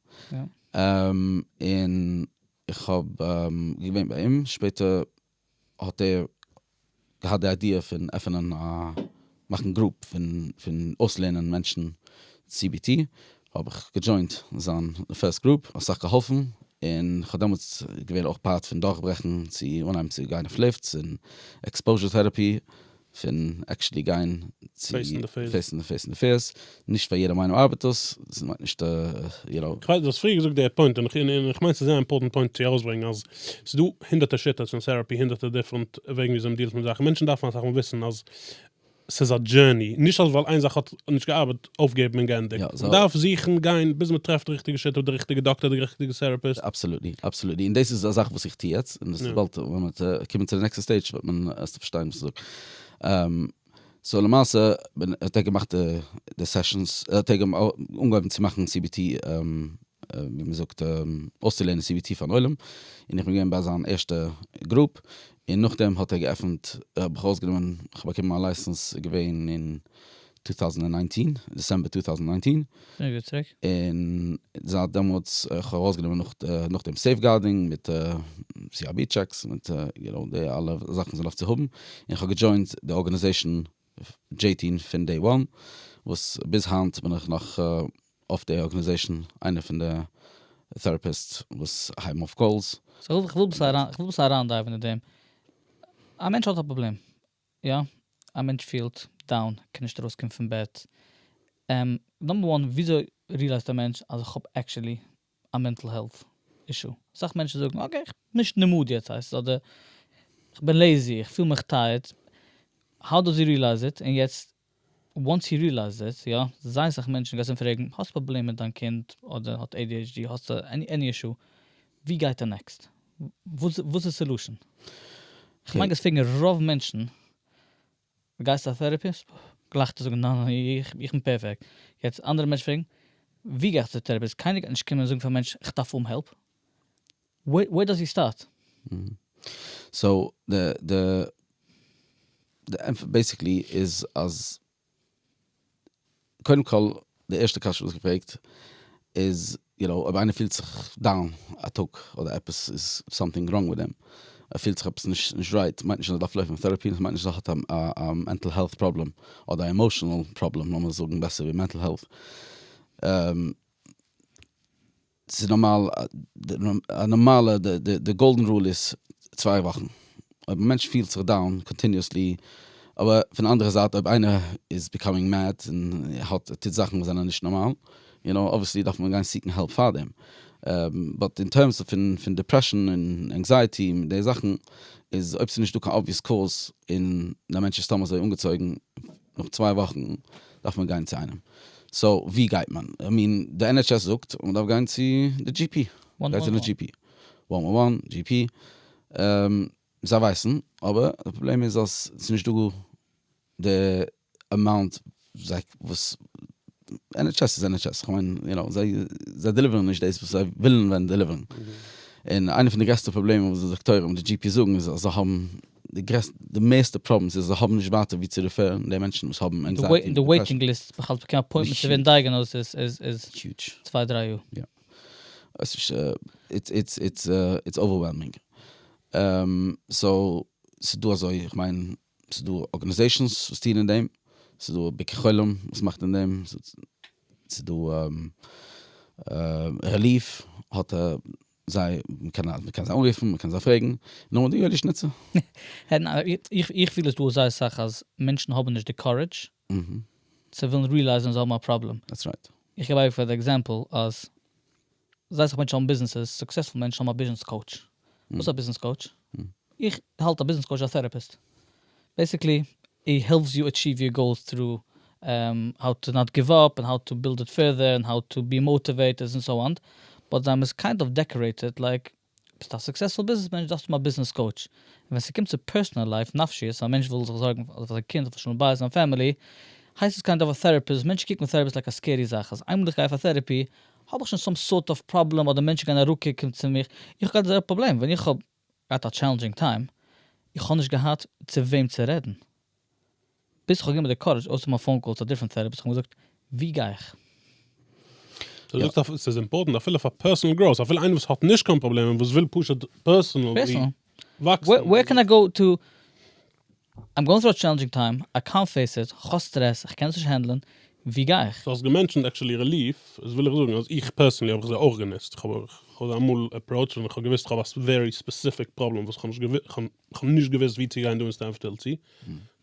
און איך האב געווען ביי אים, שפעטער האט ער געהאט די איידיע פון עפענען א, מאכן גרופ פון אויסלערנען מענטשן סי בי טי, האב איך געדזשוינט זיין פערסט גרופ, האט אסאך געהאלפן, און כ'האב דעמאלטס געווען אויך פארט פון דורכברעכן צו אנהייבן צו גיין אויף ליפטס און עקספאוזשער טעראפי, פון עקשעלי גיין צו פעיסן די פעיס און די פיערס, נישט פאר יעדע מיינונג ארבעט דאס, ס'איז נאך נישט יו נאו. כ'ווייס דו האסט פריער געזאגט די פוינט און איך מיין ס'איז זייער אימפארטענט פוינט צו ארויסברענגן אז ס'איז דא הונדערטער שיטות און טעראפי הונדערטער דיפרענט וועגן וויאזוי מ'דיעלט מיט זאכן, מענטשן דארפן אסאך מאל וויסן אז ס'איז א דזשערני, נישט אז ווייל איין זאך האט נישט געארבעט אויפגעבן און גענדיגט. יא, סאו. מ'דארף זוכן, גיין, ביז מ'טרעפט די ריכטיגע שיטה, די ריכטיגע דאקטער, די ריכטיגע טעראפיסט. אבסעלוטלי, אבסעלוטלי, און דאס איז א זאך וואס איך טו יעצט, און דאס איז יא. באלד ווען מ'וועט קומען צו די נעקסטע סטעידזש וועט מען, וועסטו פארשטיין וואס איך זאג. סאו למעשה בין, האט ער געמאכט די די סעשאנס, האט ער אנגעהויבן צו מאכן סי בי טי, ווי מ'זאגט, אויסצולערנען סי בי טי פארן עולם, און איך בין געווען ביי זיין ערשטע גרופ, און נאכדעם האט ער געעפנט, האב איך ארויסגענומען, כ'האב באקומען מיין לייסענס, איז געווען אין 2019, דעצעמבער 2019. שוין גוט צוריק. און זייט דעמאלטס איך האב ארויסגענומען נאך נאך דעם סעיפגארדינג מיט סי אר בי טשעקס מיט יו נאו די אלע זאכן וואס מען דארף צו האבן, און איך האב געדזשוינט די ארגאניזעישן דזשעי טי און פון דעי וואן, וואס ביז היינט בין איך נאך אויף די ארגאניזעישן, איינער פון די טעראפיסטס וואס הייבן אויף קאלס. סאו איך וויל אביסל אריינדייוון אין דעם. א מענטש האט א פראבלעם, יא, א מענטש פילט דאון, ער קען נישט ארויסקומען פון בעט. נאמבער וואן, וויאזוי ריעלייזט א מענטש אז איך האב עקשעלי א מענטל העלט אישו? אסאך מענטשן זאגן אקעי, איך בין נישט אין די מאד יעצט הייסט עס, אדער איך בין לעזי, איך פיל מיך טייערד, האו דאז הי ריעלייז איט? און יעצט וואנס הי ריעלייזד איט, יא, זייער סאך מענטשן גייסט אים פרעגן, האסט פראבלעם מיט דיין קינד, אדער האט adhd, האסט עני אישו, ווי גייט ער נעקסט? וואס איז די סעלושען? כ'מיין גייסט פרעגן רוב מענטשן, גייסט א טערעפיסט? גלייך וועט ער זאגן ניין ניין איך בין פערפעקט. יעצט אנדערע מענטשן פרעגן, ווי גיי איך צו טערעפיסט? קיינער גייט נישט קומען און זאגן פאר א מענטש, כ'דארף האבן העלפ. וועיר דאס יו סטארט? סאו די די די ענטפער בעסיקלי איז אז קודם כל די ערשטע קשיא וואס געפרעגט איז יו נאו אויב איינער פילט זיך דאון א טאג אדער עפעס איז סאמטינג ראנג מיט אים ער פילט זיך עפעס נישט נישט רייט מיינט נישט אז ער דארף לויפן טעראפי מיינט נישט אז ער האט א מענטל העלט פראבלעם אדער א עמאשענעל פראבלעם לאמיר זאגן בעסער ווי מענטל העלט. ס'איז נארמאל א נארמאלע די גאלדען רול איז צוויי וואכן אויב א מענטש פילט זיך דאון קאנטיניעסלי אבער פון די אנדערע זייט אויב איינער איז ביקאמינג מעד און האט טוט זאכן וואס זענען נישט נארמאל יו נאו אבוויעסלי דארף מען גיין סיקן העלפ פאר דעם באט אין טערמס פון דעפרעשאן און ענקזייעטי און די זאכן איז אויב ס'נישט דא קיין אבוויעס קאז און די מענטש איז סתם אזוי אנגעצויגן נאך צוויי וואכן דארף מען גיין צו איינעם, סאו ווי גייט מען? איך מיען די NHS זאגט מען דארף גיין צו די GP, גיי צו די GP, וואן וואן וואן, GP, זיי ווייסן אבער די פראבלעם איז אז ס'איז נישט דא די אמאונט וואס, NHS איז NHS, כ'מיין יו נאו, זיי דעליווערן נישט דאס וואס זיי ווילן ווען דעליווערן, און איינע פון די גרעסטע פראבלעמען וואס די דאקטוירים און די GP זאגן איז אז זיי האבן די גרעסטע, די מערסטע פראבלעמס איז זיי האבן נישט ווייטער ווי צו ריפערן די מענטשן וואס האבן ענקזייעטי און דיפרעשאן. די וועיטינג ליסט בכלל צו באקומען אפוינטמענט צו ווערן דייעגענאוזד איז צוויי דריי יאר. יא. איטס אווערוועלמינג. סאו ס'איז דא אזוי איך מיין ס'איז דא ארגענעזעישאנס וואס טוען אין דעם, ס'איז דא ביקור חולים וואס מאכט אין דעם, ס'איז דא רעליף האט זיי, מ'קען זיי אנרופן, מ'קען זיי פרעגן, נו און דו יואלי שניצער? איך פיל עס דא זייער סאך אז מענטשן האבן נישט די קארעדזש צו ווילן ריעלייזן אז זיי האבן א פראבלעם. איך געב אייביג פאר די עקזעמפל אז זייער סאך מענטשן האבן ביזנעסעס, סוקסעספול מענטשן האבן א ביזנעס קאוטש. וואס איז א ביזנעס קאוטש? איך האלט א ביזנעס קאוטש א טעראפיסט. בעיסיקלי איט העלפס יו אטשיוו יור גאולס טרו האו טו נאט גיוו אפ און האו טו בילד איט פערדער און האו טו בי מאטיוועיטעד און סאו אן באט זיי מוז קיינד אוו דעקארעיטעד לייק ביסט א סוקסעספול ביזנעס מענטש דארפסט האבן א ביזנעס קאוטש און ווען ס'קומט צו פערסאנעל לייף נפשיות א מענטש וויל זיך זארגן אויף זיין קינד אויף שלום בית זיין פעמילי הייסט עס קיינד אוו א טעראפיסט מענטשן קוקן אויף טעראפיסט לייק א סקערי זאך אז איינמאל איך גיי פאר טעראפי האב איך שוין סאם סארט אוו פראבלעם אדער מענטשן גייען אראפקוקן צו מיך איך האב געהאט די זעלבע פראבלעם ווען איך האב געהאט א טשעלענדזשינג טיים, איך האב נישט געהאט צו וועם צו רעדן, ביז איך האב גענומען די קארעדזש אויסצומאכן א פאון קאל צו א דיפרענט טערעפיסט, איך האב געזאגט ווי גיי איך? דו זאגסט אז ס'איז אימפארטענט אפילו פאר פערסאנעל גראוס, אפילו איינער וואס האט נישט קיין פראבלעמען וואס וויל פשוט פערסאנעלי וואקסן. ווער קען איי גאו טו איים גאוינג טרו א טשעלענדזשינג טיים, איי קאנט פעיס איט, כ'האב סטרעס, כ'קען עס נישט הענדלען, ווי גיי איך? דו האסט געמענטשענט עקשעלי רעליף, איז וויל איך זאגן אז איך פערסענלי האב איך זיי אויך גענוצט, כ'האב זיי אמאל עפראוטשט ווען כ'האב געוויסט כ'האב א ווערי ספעסיפיק פראבלעם וואס כ'האב נישט געוויסט ווי צו גיין דא אין סטענפטעל צו,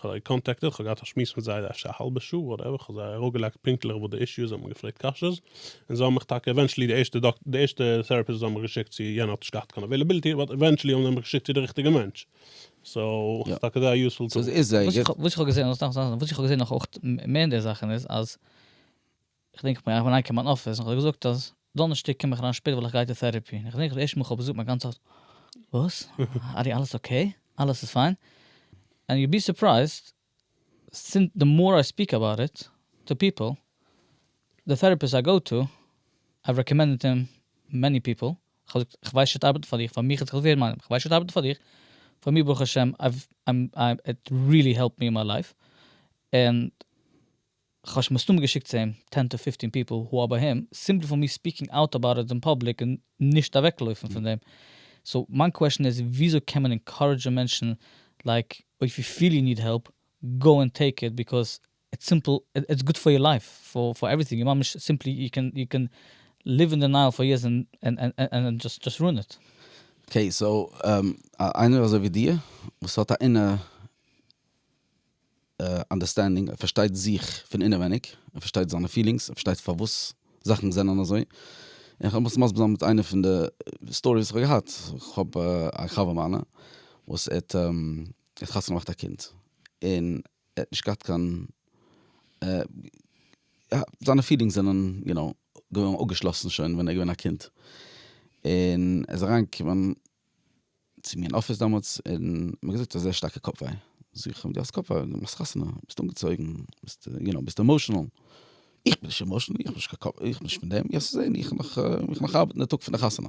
כ'האב זיי קאנטעקטעד, כ'האב געהאט א שמועס מיט זיי אפשר א האלבע שעה, וואטעווער, כ'האב זיי אראפגעלייגט פונקטליך וואס די אישו איז, זיי האבן מיר געפרעגט קשיות, און זיי האבן מיך טאקע עווענטשעלי די ערשטע דאקטער די ערשטע טעראפיסט וואס זיי האבן מיך געשיקט צו יענער האט נישט געהאט קיין אוועילעביליטי, באט עווענטשעלי האבן זיי מיך געשיקט צו די ריכטיגע מענטש. סאו ס'איז טאקע דא א יוספול טול. וואס איך האב געזען, וואס איך האב געזען נאך אויך מער אין די זאכן איז אז, כ'דענק איך בין אריינגעקומען אין מיין אפיס און כ'האב געזאגט אז דאנערשטאג קום איך אריין שפעט ווייל איך גיי צו טעראפי, און כ'דענק איך די ערשטע מאל כ'האב געזאגט מיין גאנצע הארץ וואס? ארי אלעס אקעי? אלעס איז פיין? ענד יו בי סורפרייזד סינט די מאר איי ספיק אבאוט איט טו פיפל, די טערעפיסט איי גאו טו, הייב רעקאמענדעד הים מעני פיפל, כ'האב געזאגט איך ווייס שוין ס'ארבעט פאר דיך, פאר מיך האט זיך געווען מיינעם, כ'ווייס שוין ס'ארבעט פאר דיך, פאר מיר ברוך השם, איט ריעלי העלפט מי אין מיי לייף, און. כ'האב שוין מסתמא געשיקט צו אים טען טו פיפטין פיפל הו אר ביי הים, סימפלי פאר מיר ספיקינג אוט אבאוט איט אין פאבליק און נישט אוועקלויפן פון דעם. סאו מיין קוועשן איז וויאזוי קען מען אינקארעדזשן מענטשן לייק אויף יו פיל יו ניד העלפ גאו און טעיק איט ביקאוז איטס סימפל איטס גוד פאר יור לייף פאר פאר עווריטינג און ממש סימפלי יו קען יו קען ליוו אין דענייעל פאר יערס און און דזשאסט דזשאסט רוען איט. אקעי סאו איינער אזוי ווי דיר וואס האט א אינער אנדערסטענדינג, ער פארשטייט זיך פון אינעווייניג, ער פארשטייט זיינע פילינגס, ער פארשטייט פארוואס זאכן זענען אזוי, און כ'האב עס מסביר זיין מיט איינע פון די סטאריס וואס כ'האב געהאט, כ'האב א חבר מיינע וואס ער האט חתונה געמאכט א קינד, און ער האט נישט געהאט קיין, זיינע פילינגס זענען יו נאו געווען אפגעשלאסן שוין ווען ער איז געווען א קינד, און ער איז אריינגעקומען צו מיר אין אפיס דאמאלטס, און מ'האט געזאגט ס'איז אזוי שטארקע קאפ וויי, זאג איך אים די האסט קאפ וויי, די מאכסט חתונה, ביסט אנגעצויגן, ביסט יו נאו, ביסט עמאשענעל, איך בין נישט עמאשענעל, איך האב נישט קיין קאפ, איך בין נישט פון דעם, וועסט זען, איך וועל נאך ארבעטן די טאג פון די חתונה.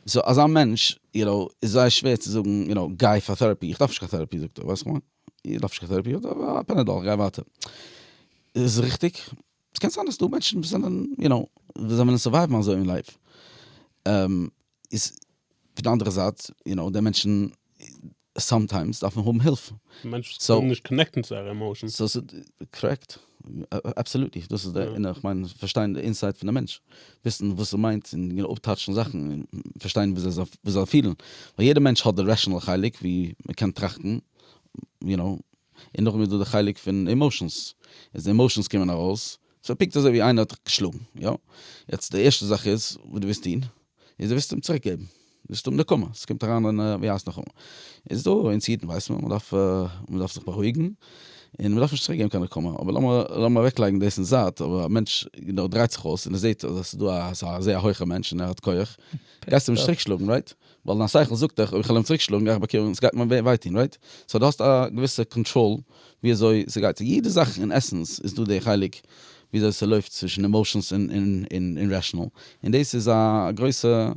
סאו אזא מענטש, יו נאו, איז זייער שווער צו זאגן, יו נאו, גיי פאר טעראפי, איך דארף נישט קיין טעראפי זאגט ער, ווייסט כמובן, איך דארף נישט קיין טעראפי, א פענעדאל, גיי ווייטער. איז עס ריכטיג? ס'קען זיין אז ס'דא מענטשן וואס זענען, יו נאו, וואס זיי וועלן סורווייוון אזוי אין לייף. איז פון די אנדערע זייט יו נאו די מענטשן סאמטיימס דארפן האבן הילף. מענטשן זיך קענען נישט קאנעקטן צו זייערע עמאושענס. סאו ס'איז קארעקט, אבסאלוטלי, דאס איז די, און איך מיין פארשטיין די אינסייד פון א מענטש, וויסן וואס ער מיינט און יו נאו אפטאטשן זאכן און פארשטיין ווי אזוי ער זאל פילן, ווייל יעדע מענטש האט די רעשענעל חלק ווי מען קען טראכטן יו נאו, און נאכדעם איז דא די חלק פון עמאושענס, איז די עמאושענס קומען ארויס סאו פונקט אזוי ווי איינער האט דיך געשלאגן, יא? יעצט די ערשטע זאך איז וואס דו וועסט טון, איז דו וועסט אים צוריק געבן, דו וועסט האבן נקמה, עס קומט אריין אין ווי הייסט נאכאמאל, איז דא אונז אידן ווייסט מען, מען דארף מען דארף זיך בארואיגן, און מען דארף נישט צוריק געבן קיין נקמה, אבער לאמיר לאמיר אוועק לייגן דאס אין זייט, אבער א מענטש נאר דרייט זיך אויס און ער זעט אז עס איז דא א זייער הויכע מענטש און ער האט כח, גייסטו אים נישט צוריק שלאגן, רייט? ווייל דיין שכל זאגט דיך אויב איך וועל אים צוריקשלאגן גיי איך באקומען, ס'גייט מיר וויי טון רייט? סאו די האסט א געוויסע קאנטראל ווי אזוי ס'גייט, סאו יעדע זאך אין עסענס איז דא די חלק ווי אזוי ס'לויפט צווישן עמאושענס און רעשענעל, און דאס איז א גרויסע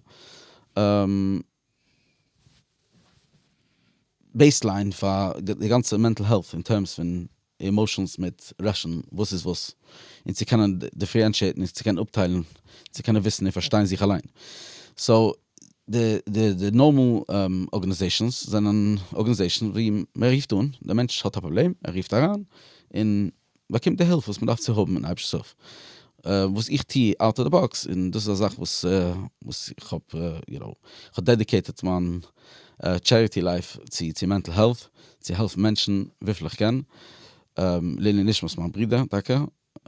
בעיסליין פאר די גאנצע מענטל העלט אין טערמס פון אימאושענס מיט ראשען וואס איז וואס און צו קענען דיפערענטשיעטן און צו קענען אפטיילן צו קענען וויסן און פארשטיין זיך אליין סאו די די נארמאל ארגענעזעישאנס זענען ארגענעזעישאן ווי מען רופט אן די מענטש האט א פראבלעם ער רופט אריין און באקומט די הילף וואס מען דארף צו האבן און היבש סוף וואס איך טו אוט אוו די באקס און דאס איז א זאך וואס וואס איך האב יו נאו איך האב דעדיקעיטעט מיין טשעריטי לייף צו צו מענטל העלט צו העלפן מענטשן וויפיל איך קען לעיני נשמת מיין ברודער טאקע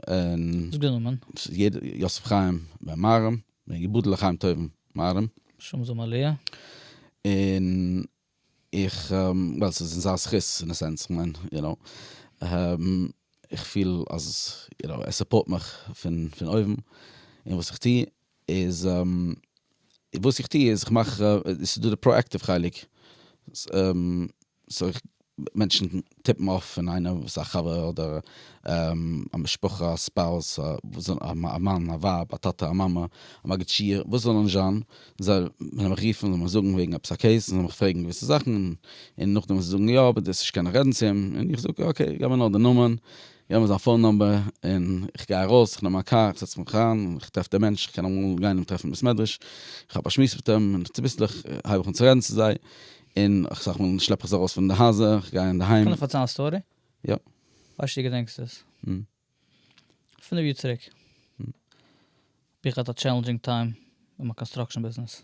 און יוסף חיים בן מהרם בן יבודל לחיים טובים מהרם שמו זמלי' און איך ווייל ס'איז אין זיין זכות אין א סענס כ'מיין יו נאו איך פיל אז יו נאו ער סופארט מיך פון פון אויבן אין וואס איך טו. איז וואס איך טוה איז איך מאך, ס'איז דא די פראעקטיוו חלק, סאו מענטשן טיפן אויף פון איינער וואס איז א חבר אדער א משפחה א ספאוס א מאן א ווייב א טאטע א מאמע א מגיד שיעור וואס זאל נישט זיין, זאל מען מיך רופן זאל מען זאגן וועגן עפעס א קעיס זאל מען מיך פרעגן געוויסע זאכן און נאכדעם ווען זיי זאגן יא אבער דאס נישט קענען רעדן צו אים און איך זאג אקעי געב מיר נאר די נאמען געב מיר זיין פאון נומבער און איך גיי ארויס, איך נעם מיין קאר, איך זעץ מיך אריין, איך טרעף די מענטש, איך קען אמאל גיין אים טרעפן אין בית מדרש, איך האב א שמועס מיט אים, און צוביסלעך הייב איך אן צו רעדן צו זיי, און אסאך מאל שלעפ איך זיי ארויס פון די הייזער, איך גיי אינדערהיים. קען איך פארציילן א סטארי? יא. כ'ווייס נישט צו דו געדענקסט עס. פינף יאר צוריק האב איך געהאט א טשעלענדזשינג טיים אין מיין קאנסטראקשען ביזנעס.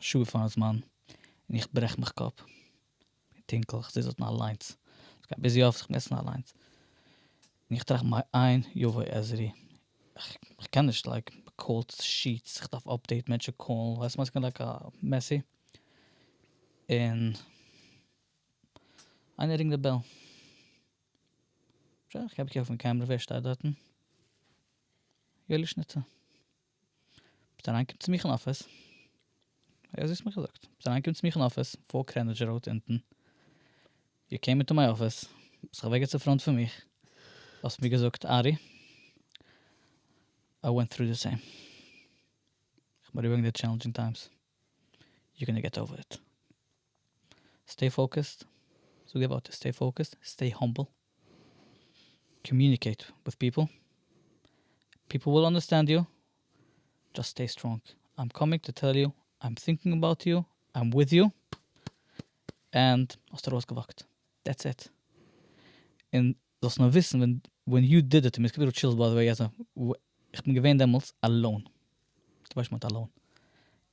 שעה פארן זמן און איך ברעך מיך קאפ און טונקל איך זיץ דארטן אליינס איך גיי ביז יואב זיך מעסטן אליינס און איך טראכט מיין איין יבוא עזרי איך קען נישט לייק קאלד שיעטס איך דארף אפדעיט מענטשן קאלן ווייסט וואס כמיין לייק א מעסי און איינער רינגט די בעל שוין איך הייב אויף און קעמרע ווער שטייט דארטן? יואלי שניטצער. ביזט אריינגעקומען צו מיך אין אפיס, אזוי האסטו מיר געזאגט, ביזט אריינגעקומען צו מיך אין אפיס, פאר קרעניטשע ראוד אונטן, יו קעים אינטו מיי אפיס, ביזט זיך אוועקגעצט אין פראנט פון מיך, האסט מיר געזאגט ארי, איי ווענט טרו די סעים, איך בין אריבערגעגאנגען די טשעלענדזשינג טיימס, יו גאנא געט אווער איט. סטעי פאוקעסד, זאג די ווארטער סטעי פאוקעסד, סטעי האמבל, קאמיוניקעיט וויט פיפל, פיפל וויל אנדערסטענד יו, דזשאסט סטעי סטראנג, איים קאמינג טו טעל יו, איים טינקינג אבאוט יו, איים וויט יו, ענד האסט ארויסגעוואקט, דעטס איט, און זאלסט נאר וויסן ווען ווען יו דיד איט, מיר איז געווען א טשילס ביי די וועי אז איך בין געווען דעמאלטס אלאון, דו ווייסט שוין וואט אלאון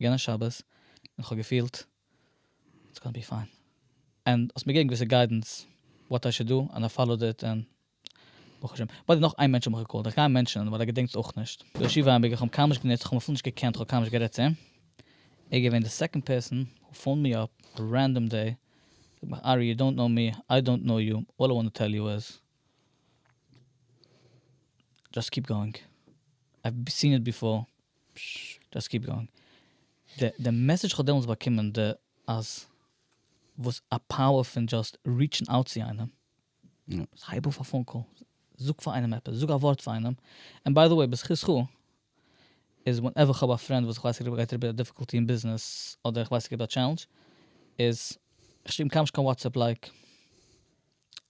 יענע שבת און כ'האב געפילט איטס גאנא בי פיין ענד האסט מיר געגעבן געוויסע גיידענס וואט איי שוד דא ענד איי פאלאוד איט ענד ברוך השם. ביי די נאך איין מענטש האב איך געקאלט איך גיי אים מענטשענען ווייל ער געדענקט עס אויך נישט דער ישיבה אייביגער כ'האב אים קיינמאל נישט גענוצט כ'האב אים אפילו נישט געקענט כ'האב קיינמאל נישט גערעדט צו אים ער איז געווען די סעקאנד פערסאן הו פאונד מי אפ א רענדאם דעי זאגט מיך ארי יו דאנט נאו מי איי דאנט נאו יו אלל איי וואנט טו טעל יו איז דזשאסט קיפ גאוינג אייוו סין איט ביפאר די מעסעדזש כ'האב דעמאלטס באקומען די אז וואס א פאוער פון דזשאסט ריעטשן אוט צו איינעם, הייב אויף א פאון קאל, זאג פאר איינעם עפעס, זאג א ווארט פאר איינעם, און ביי די וועי בזכותך איז ווענעווער כ'האב א פרענד וואס איך ווייס ער גייט אריבער א דיפיקאלטי אין ביזנעס אדער איך ווייס ער גייט אדער א טשעלענדזש איז כ'שריב אים קיינמאל נישט קיין וואטסעפפ לייק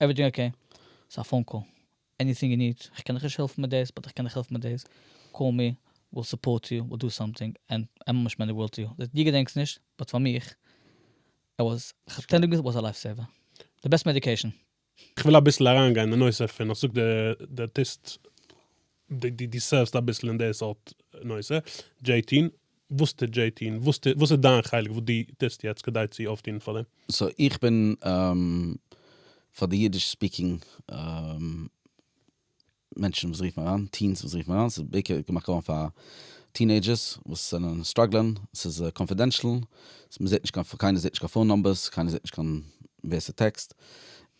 עוועריטינג אקעי, ס'איז א פאון קאל, עניטינג יו ניד, כ'קען דיך נישט העלפן מיט דאס באט איך קען דיך העלפן מיט דאס, קאל מי, וויל סופארט יו, וויל דא סאמטינג, ענד ענד מאמענט מען די ווארלד טו יו, דעט דו געדענקסט נישט, באט פאר מיך, ער וואס, אטענדינג וויז איט וואס א לייף סעיווער. די בעסט מעדיקעישן. כ'וויל אביסל אריינגיין אין די נושא פון אז זאגט די ארטיסט דו סערוו'סט אביסל אין די סארט נושא, דזשעי טין, וואס טוט דזשעי טי און וואס טוט וואס איז דיין חלק וואס דו טוסט יעצט כדי צו אויפטון פאר דעם? סאו איך בין פאר די אידיש ספיקינג מענטשן וואס רופן אריין, טיענס וואס רופן אריין, ס'איז בעיקר געמאכט געווארן פאר טינעידזשערס וואס זענען סטראגלען, ס'איז קאנפידענשל, מ'זעט נישט קיין פאון, קיינער זעט נישט קיין פאון נאמבערס, קיינער זעט נישט קיין ווער ס'טעקסט,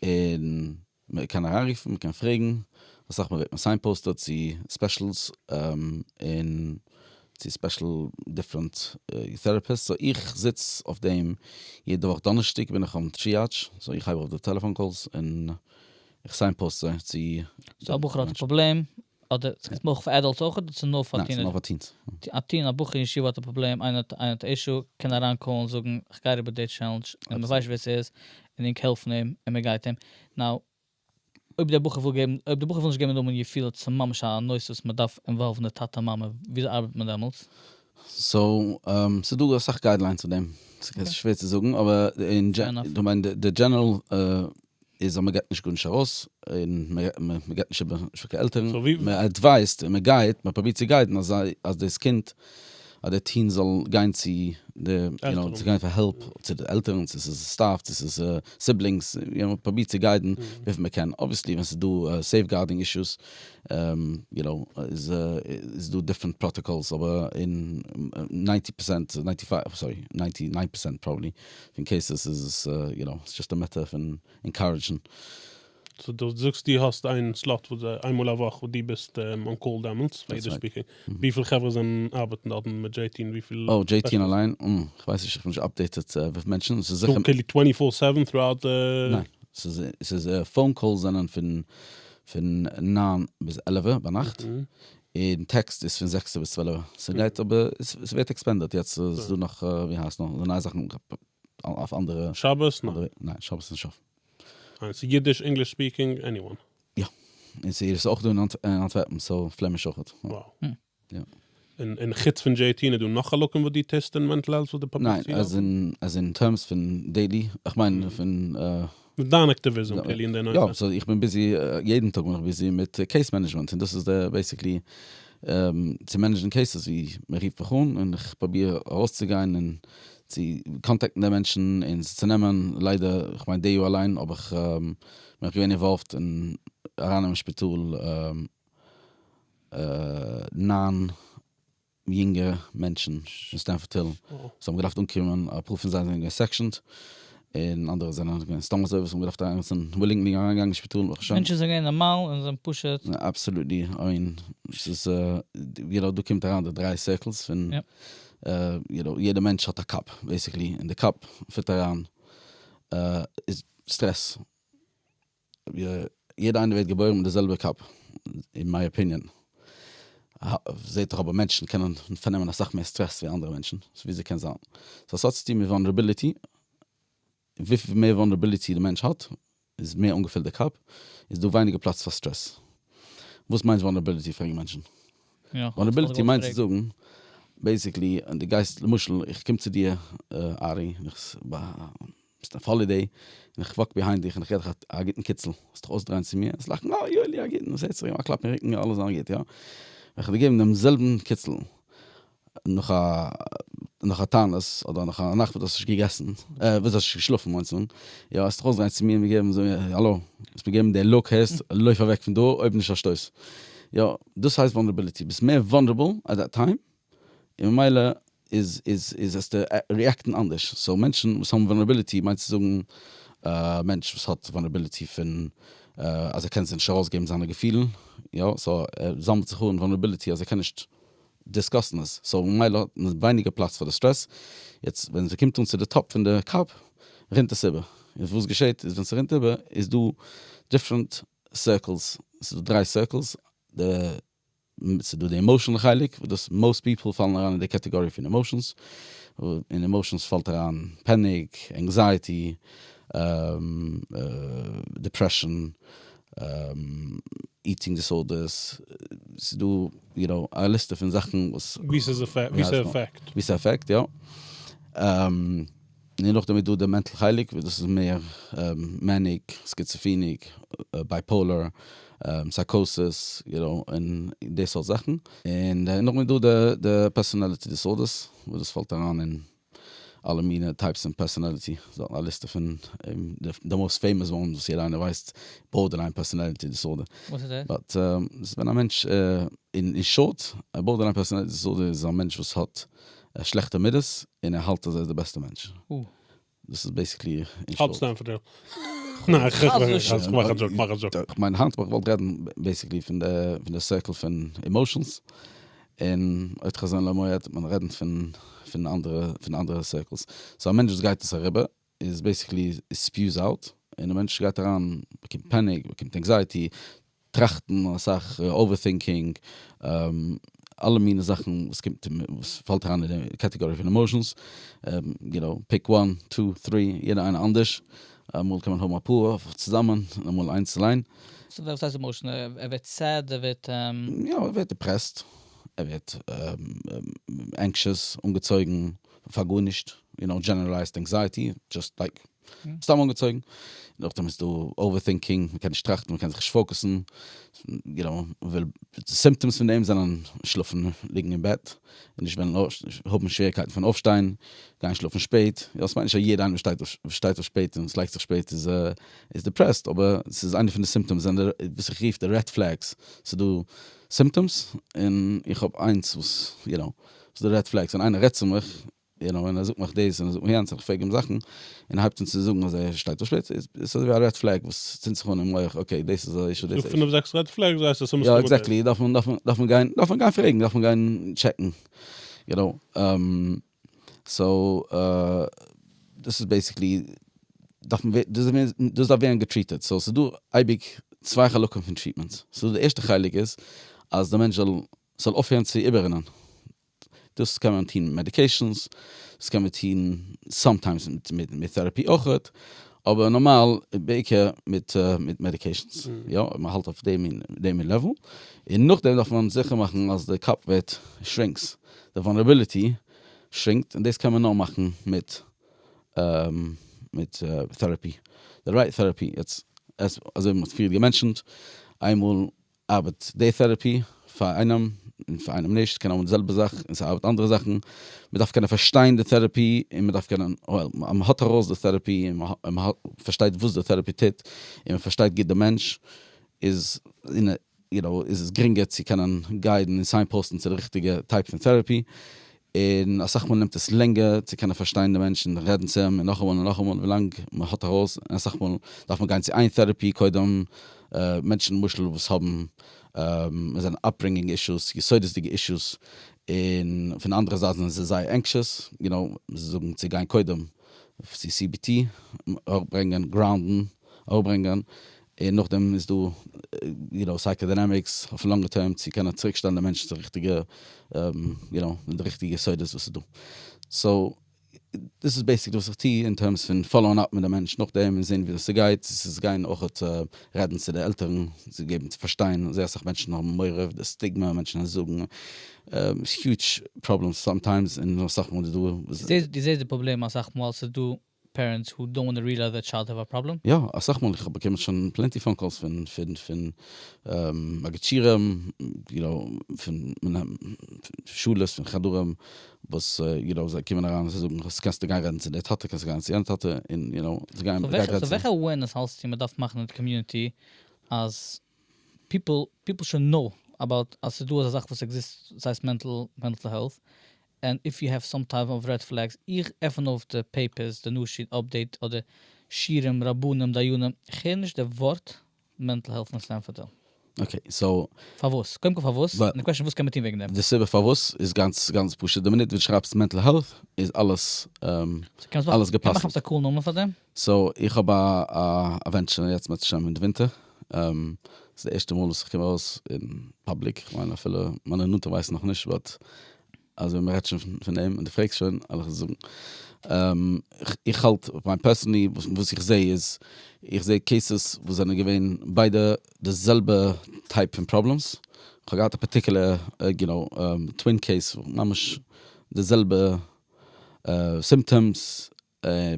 און מען קען אריינרופן, מען קען פרעגן, אסאך מאל ווערט מען סיינפאוסטעד צו ספעשילס און צו ספעשיל דיפרענט טערעפיסט, סאו איך זיץ אויף דעם יעדע וואך דאנערשטאג בין איך און טריאדש, סאו איך הייב אויף די טעלעפאן קאלס און איך סיינפאוסט זיי צו. סאו א בחור האט א פראבלעם, אדער ס'קומט מיר אויך פאר עדאלטס אויך אדער ס'איז נאר פאר טינעדזשערס? ניין, ס'איז נאר פאר טיענס. א טין א בחור אין ישיבה האט א פראבלעם איינער האט איינער האט א אישו קען אריין קאלן זאגן איך גיי אריבער די טשעלענדזש און מען ווייסט שוין ווער ס'איז און ענק העלפן אים און מען גייט אים נאו אויב דער בחור וויל געבן אויב דער בחור וויל נישט געבן די נאמען יפיל אויב ס'איז ממש א נושא וואס מען דארף אינוואלוון די טאטע מאמע וויאזוי ארבעט מען דעמאלטס? סאו ס'איז דא אסאך גיידליינס צו דעם ס'שווער צו זאגן אבער אין דזשענעראל איז אז מען געט נישט גארנישט ארויס, און מען געט נישט איבער, נישט ווי קיין עלטערן, מען עדווייזט און מען גייט, מען פרובירט צו גיידן אז זיי, אז דאס קינד, אז דער טין זאל גיין צו די, יו נאו, צו גיין פאר העלפ צו די עלטערן, צו ס'איז סטאף, צו ס'איז סיבלינגס, יו נאו, פרובירט צו גיידן וויפיל מען קען, אבוויעסלי ווען ס'איז דא סעיפגארדינג אישוס, יו נאו, איז איז דא דיפרענט פראטאקאלס, אבער אין ניינטי פראצענט, ניינטי פייוו, סארי, ניינטי ניין פראצענט פראבעבלי, פון קעיסעס איז עס יו נאו ס'איז דזשאסט א מעטטער פון ענקארעדזשן. סאו דו זאגסט דו האסט איין סלאט וואס זיי איין מאל א וואך וואס דו ביסט אן קאל דעמאלטס פאר יעדע ספיקער, וויפיל חברה זענען ארבעטן דארט און מיט דזשעי טי און וויפיל. אוי דזשעי טי אליין? אום כ'ווייס נישט כ'בין נישט אפדעיטעט וויפיל מענטשן ס'איז זיכער. כאילו טווענטי פאר סעווען טראוט די. ניין ס'איז ס'איז פאון קאלס זענען פון פון ניין ביז עלעווע ביינאכט און טעקסט איז פון זעקסע ביז צוועלעווע, ס'גייט אבער ס'ווערט עקספענדעד, יעצט איז דא נאך ווי הייסט נאך די נייע זאכן אויף אנדערע, שבת? ניין. ניין שבת איז נישט אויף. און ס'איז אידיש, ענגליש ספיקינג, עניוואן? יא. און ס'איז אויך דא אין אנטווערפן, סאו פלעמיש אויכעט. וואו? יא. און און חוץ פון דזשעי טי און איז דא נאך חלקים וואס דו טוסט אין מענטל העלט וואס דו פאבליצירסט? ניין, עז אין עז אין טערמס פון דעילי, איך מיין פון מיט דיין אקטיוויזם כולי אין די נושא. יא, סאו איך בין ביזי, יעדן טאג בין איך ביזי מיט קעיס מענעדזשמענט, און דאס איז די בעיסיקלי צו מענעדזשן קעיסעס ווי מען רופט מיך אן און איך פרוביר ארויסצוגיין און צו קאנטעקטן די מענטשן און עס צו נעמען, ליידער, כ'מיין די יאר אליין האב איך, בין איך געווען אינוואלווד אין ארייננעמען שפיטאל ניין. יונגע מענטשן פון סטענפארד היל וואס האבן געדארפט אנקומען, אפאר פון זיי זענען געווען סעקשאנד, און אנדערע זענען געווען סתם אזוי וואס האבן געדארפט אריינגעצן ווילינגלי אריינגעגאנגען אין שפיטאל ברוך השם. מענטשן זענען געווען נארמאל און זענען פשוט. אבסעלוטלי און ס'איז יו נאו דא קומט אריין די דריי סירקלס פון יו נאו יעדע מענטש האט א קאפ בעיסיקלי און די קאפ פירט אריין סטרעס יעדע איינער ווערט געבוירן מיט די זעלבע קאפ אין מיי אפיניען, זעהט דאך אבער מענטשן קענען פארנעמען אסאך מער סטרעס ווי אנדערע מענטשן, סאו וויאזוי קען זיין? סאו ס'האט צוטון מיט וואנערעביליטי, וויפיל מער וואנערעביליטי די מענטש האט, איז מער אנגעפילט די קאפ, איז דא ווייניגער פלאץ פאר סטרעס. וואס מיינט וואנערעביליטי פרעגן מענטשן? וואנערעביליטי מיינט צו זאגן בעיסיקלי, די גייסט למשל איך קום צו דיר ארי, ביסט אויף האלידעי און איך וואק ביהיינד דיך און איך געב דיך א גוטן קיצל, וועסט דיך אויסדרייען צו מיר, וועסט לאכן אה יואלי א גוטן, וואס הערט זיך, געב אים א קלאפ אין רוקן, יא אלעס זאלן גוט, יא? וועל איך דיר געבן דעם זעלבן קיצל נאך א נאך א תענית אדער נאך א נאכט וואס דו האסט נישט געגעסן, אה וואס דו האסט נישט געשלאפן מיינטס אן, יא? וועסט דיך אויסדרייען צו מיר און מיר געבן זאגן און האלא, וועסט מיר געבן די לוק, הערסט? לויף אוועק פון דא אויב נישט א שטויס, יא? דאס הייסט וואלנערבילעטי, ביסט מער וואלנערבל עט דעט טיים, און ממילא איז איז איז וועסטו ריעקטן אנדערש, סאו מענטשן וואס האבן וואלנערבילעטי מיינסטו צו זאגן א מענטש וואס האט וואלנערבילעטי פון אז ער קען זיך נישט ארויסגעבן זיינע געפילן, יא? סאו ער זאמלט זיך אן וואלנערבילעטי אז ער קען נישט דיסקאסן עס, סאו ממילא האט מען ווייניגער פלאץ פאר די סטרעס, יעצט ווען ס'קומט אן צו די טאפ פון די קאפ רינט עס איבער, און וואס געשעט איז ווען ס'רינט איבער איז דא דיפרענט סירקלס, ס'איז דא דריי סירקלס, די ס'איז דא די עמאושענעל חלק וואס דאס מאוסט פיפעל פאלן אריין אין די קעטעגארי פון עמאושענס, אין עמאושענס פאלט אריין פעניק, ענקזייעטי, דיפרעשאן, איטינג דיסארדערס, ס'איז דא יו נאו א ליסטע פון זאכן וואס. ווי ס'אפעקט, יא. און נאכדעם איז דא די מענטל חלק וואס דאס איז מער מעניק, סקיצעפיניק, בייפאולער, סייקאסיס, יו נאו, און די סארט זאכן. און נאכדעם איז דא די פערסאנעליטי דיסארדערס וואס דאס פאלט אריין אין אלע מינע טייפס פון פערסאנעליטי, א ליסטע פון די מאוסט פעימאס וואנס וואס יעדער איינער ווייסט, בארדערליין פערסאנעליטי דיסארדער. וואס איז דאס? באט, דאס איז ווען א מענטש, אין שארט, א בארדערליין פערסאנעליטי דיסארדער איז א מענטש וואס האט ער האט שלעכטע מידות און ער האלט אז ער איז די בעסטע מענטש. דאס איז בעסיקלי אין שארט. האלטסט ענפער דו? ניין איך האלט נישט. איך מאך א דזשאוק, איך מאך א דזשאוק. איך מיין היינט וואלט איך געוואלט רעדן בעסיקלי פון די סירקל פון עמאושענס, און אויב חזון למועד וועט מען רעדן פון אנדערע סירקלס. סאו א מענטש וואס גייט עס אריבער איז בעיסיקלי איט ספיוס אוט און די מענטש גייט אריין באקומט פעניק באקומט ענקזייעטי טראכטן אסאך אווערטינקינג אלע מיני זאכן וואס קומט וואס פאלט אריין אין די קעטעגארי פון עמאשענס יו נאו פיק וואן טו טרי יעדע איינע אנדערש אמאל קען מען האבן אפאר אויף צוזאמען און אמאל איינס אליין. סאו וואס הייסט עמאשענעל ער ווערט סעד ער ווערט. יא ער ווערט דיפרעסט ער ווערט ענקשעס אנגעצויגן. פאר גארנישט, יו נאו דזשענערעלייזד ענקזייעטי, דזשאסט לייק סתם אנגעצויגן, נאכדעם איז דא אווער טינקינג, מ'קען נישט טראכטן, מ'קען זיך נישט פאוקעסן, יו נאו, מ'וויל, די סימפטאמס פון דעם זענען, שלאפן, ליגן אין בעט, נישט וועלן אויפשטיין, האבן שוועריקייטן פון אויפשטיין, גיין שלאפן שפעט, יא איך מיין נישט אז יעדער איינער וואס שטייט אויף שפעט און וואס לייגט זיך שפעט איז דיפרעסט, אבער ס'איז איינע פון די סימפטאמס, זענען די וואס איך רוף די רעד פלעגס, ס'איז דא סימפטאמס, און איך האב איינס וואס, יו נאו. וואס איז די רעד פלעגס? ווען איינער רעדט צו מיך, יו נאו, און ער זאגט מיך דאס און ער זאגט מיך יענץ און איך פרעג אים זאכן, און ער הייבט אן צו זאגן אז ער שטייט אויף שפיץ, איז עס אזויווי א רעד פלעג וואס צינדט זיך אן אין מח, אקעי דאס איז א אישו, דאס איז א אישו. פינף זעקס רעד פלעגס ווייסט אז ס'מסתמא דאס. יא עקזעקטלי, דארף מען דארף מען דארף מען גיין דארף מען גיין פרעגן דארף מען גיין טשעקן, יו נאו, סאו דאס איז בעיסיקלי דארף מען ווערן דאס איז דאס דארף ווערן געטריטעד, סאו ס'איז דא אייביג צוויי חלקים פון טריטמענטס, סאו די ערשטע חלק איז אז די מענטש זאל ס'זאל אויפהערן צו איבעררינען, דאס קען מען טון מעדיקעישאנס, דאס קען מען טון סאמטיימס מיט טעראפי אויך, אבער נארמאל בעיקר מיט מיט מעדיקעישאנס, יא, אויב מ'האלט אויף די מין די מין לעוול, און נאכדעם דארף מען זיכער מאכן אז די קאפ ווערט שרינקס, די וואנערעביליטי שרינקט, און דאס קען מען נאר מאכן מיט מיט טעראפי, די רייט טעראפי, יעצט אזוי ווי מ'האט פריער געמענטשענט, איינמאל ארבעט די טערעפי פאר איינעם און פאר איינעם נישט, קען האבן די זעלבע זאך און ס'ארבעט אנדערע זאכן, מ'דארף קענען פארשטיין די טערעפי און מ'דארף קענען, אז מ'האט ארויס די טערעפי און מ'פארשטייט וואס די טערעפי טוט און מ'פארשטייט גוט די מענטש איז יו נאו איז עס גרינגער צו קענען גיידן און סיינפאוסטן צו די ריכטיגע טייפ פון טערעפי און אסאך מאל נעמט עס לענגער צו קענען פארשטיין די מענטש און רעדן צו אים און נאכאמאל און נאכאמאל ווילאנג מען האט ארויס און אסאך מאל דארף מען גיין צו איין טעראפי קודם מענטשן למשל וואס האבן עס זענען אפברינגינג אישוס יסודות'דיגע אישוס און פון אנדערע זייט זענען זיי זייער ענקשעס יו נאו זיי זאגן צו גיין קודם צו cbt אראפברענגען גראונדן אראפברענגען און נאכדעם איז דא יו נאו סייקאדינאמיקס אויפן לאנגע טערם צו קענען צוריקשטעלן די מענטשן צו ריכטיגע יו נאו מיט די ריכטיגע יסודות וואס איז דא. סאו דאס איז בעיסיקלי וואס איך טו אין טערמס פון פאלאון אפ מיט די מענטש נאכדעם און זעהן וויאזוי ס'גייט, ס'איז גיין אויכעט רעדן צו די עלטערן זיי געבן צו פארשטיין, זייער אסאך מענטשן האבן מורא אויף די סטיגמא, מענטשן וועלן זאגן, ס'איז היוטש פראבלעם סאמטיימס און אסאך מאל איז דא. דו זעסט די פראבלעם אסאך מאל ס'איז דא פערענטס הו דאנט וואנט טו ריעלייז דער טשיילד האב א פראבלעם. יא, אסאך מאל, איך האב באקומען שוין פלענטי פאון קאלס פון פון פון אגעטשירעם, יו נאו, פון מנהל שולעס, פון חדרים, וואס יו נאו זיי קומען אריין און זיי זאגן אז קענסטו גיין רעדן צו דער טאטע, קענסטו גיין צו יענער טאטע, און יו נאו, זיי גייען, זיי גייען רעדן צו. סאו וועלכע אווערנעס האלסטו מען דארף מאכן אין די קאמיוניטי אז פיפל פיפל שוד נאו אבאוט אז ס'איז דא אזא זאך וואס עקזיסט וואס הייסט מענטל מענטל העלט ענד איף יו העוו סאם טייפ אוו רעד פלעגס איך עפן אויף די פעיפערס די נאשי אפדעיט אדער שירים רבנים דיינים איך הער נישט די ווארט מענטל העלט פון סטענפארד היל. אקעי סאו. פארוואס? קודם כל פארוואס? און די קוועשן וואס קען מען טון וועגן דעם? די סיבה פארוואס איז גאנץ גאנץ פשוט די מינוט וואס די שרייבסט מענטל העלט איז אלעס אלעס געפסל'ט. קען מען כאפן א קול נאמען פאר דעם? סאו איך האב א ווענטשען יעצט בעז השם אין די ווינטער, ס'איז די ערשטע מאל וואס איך קום ארויס אין פאבליק, איך מיין אפילו מיינע נאנטע ווייסן נאך נישט באט אז ווען מ'רעדט שוין פון דעם און דו פרעגסט שוין על איך עס זאגן. איך האלט מיין פערסענלי וואס איך זע איז, איך זע קעיסעס וואס זענען געווען ביידע די זעלבע טייפ פון פראבלעמס, איך האב געהאט א פארטיקולער יו נאו טווין קעיס ממש די זעלבע סימפטאמס,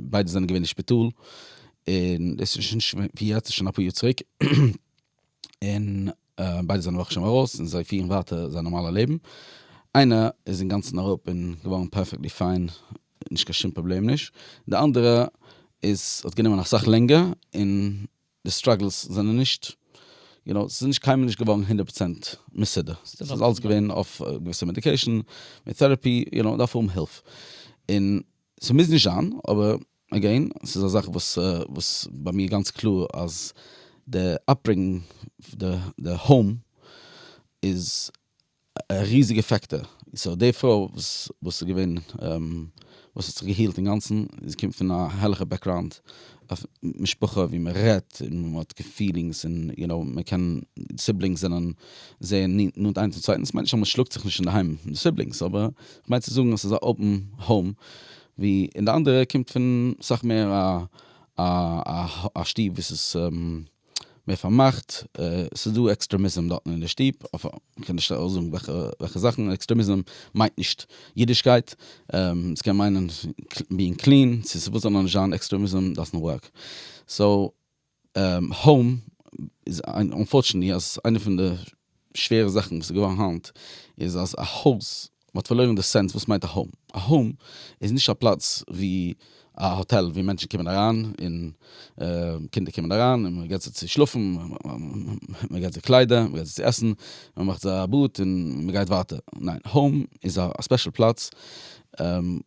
ביידע זענען געווען אין שפיטאל, און דאס איז שוין נישט ווי יעצט ס'איז שוין אפאר יאר צוריק, און ביידע זענען ברוך השם ארויס און זיי פירן ווייטער זייער נארמאלע לעבן, איינער איז אינגאנצן אראפ און געווארן פערפעקטלי פיין, נישט קיין שום פראבלעם נישט, די אנדערע איז האט גענומען אסאך לענגער, און די סטראגלס זענען נישט, יו נאו, ס'איז נישט קיינמאל נישט געווארן הונדערט פראצענט מסודר, ס'איז אלץ געווען אויף געוויסע מעדיקעישן, מיט טעראפי, יו נאו, מ'דארף האבן הילף, און. ס'מוז נישט זיין, אבער עגעין, ס'איז א זאך וואס וואס ביי מיר גאנץ קלאר אז די אפברענגינג, די האום איז א ריזיגע פעקטאר. סאו די פרוי וואס וואס איז געווען וואס האט זיך געהילט אינגאנצן, זי קומט פון א הערליכע בעקראונד, אויף משפחה ווי מען רעדט און מען האט געפילינגס און יו נאו מען קען סיבלינגס זענען זייער נאנט איינס צום צווייטן דאס מיינט נישט אז מען שלאגט זיך נישט אינדערהיים מיט די סיבלינגס אבער איך מיין צו זאגן אז ס'איז א אפען האום ווי און די אנדערע קומט פון סאך מער א שטוב וואס איז. מער פארמאכט, ס'איז דא עקסטרעמיזם דארטן אין די שטוב, כ'קען נישט אויסזאגן וועלכע זאכן, עקסטרעמיזם מיינט נישט אידישקייט, ס'קען מיינען בינג קלין, צו ס'וואס זאל נאר נישט זיין, עקסטרעמיזם דאזענט ווארק. סאו, האום איז אנפארטשענעטלי אז איינע פון די שווערע זאכן וואס איז געווארן היינט איז אז א הויז, מען האט פארלוירן די סענס וואס מיינט א האום, א האום איז נישט א פלאץ ווי א האטעל ווי מענטשן קומען אריין און קינדער קומען אריין און מען געבט זיי צו שלאפן, מען געבט זיי קליידער, מען געבט זיי צו עסן, מען מאכט זיי א באד און מען גייט ווייטער, ניין, האום איז א ספעשל פלאץ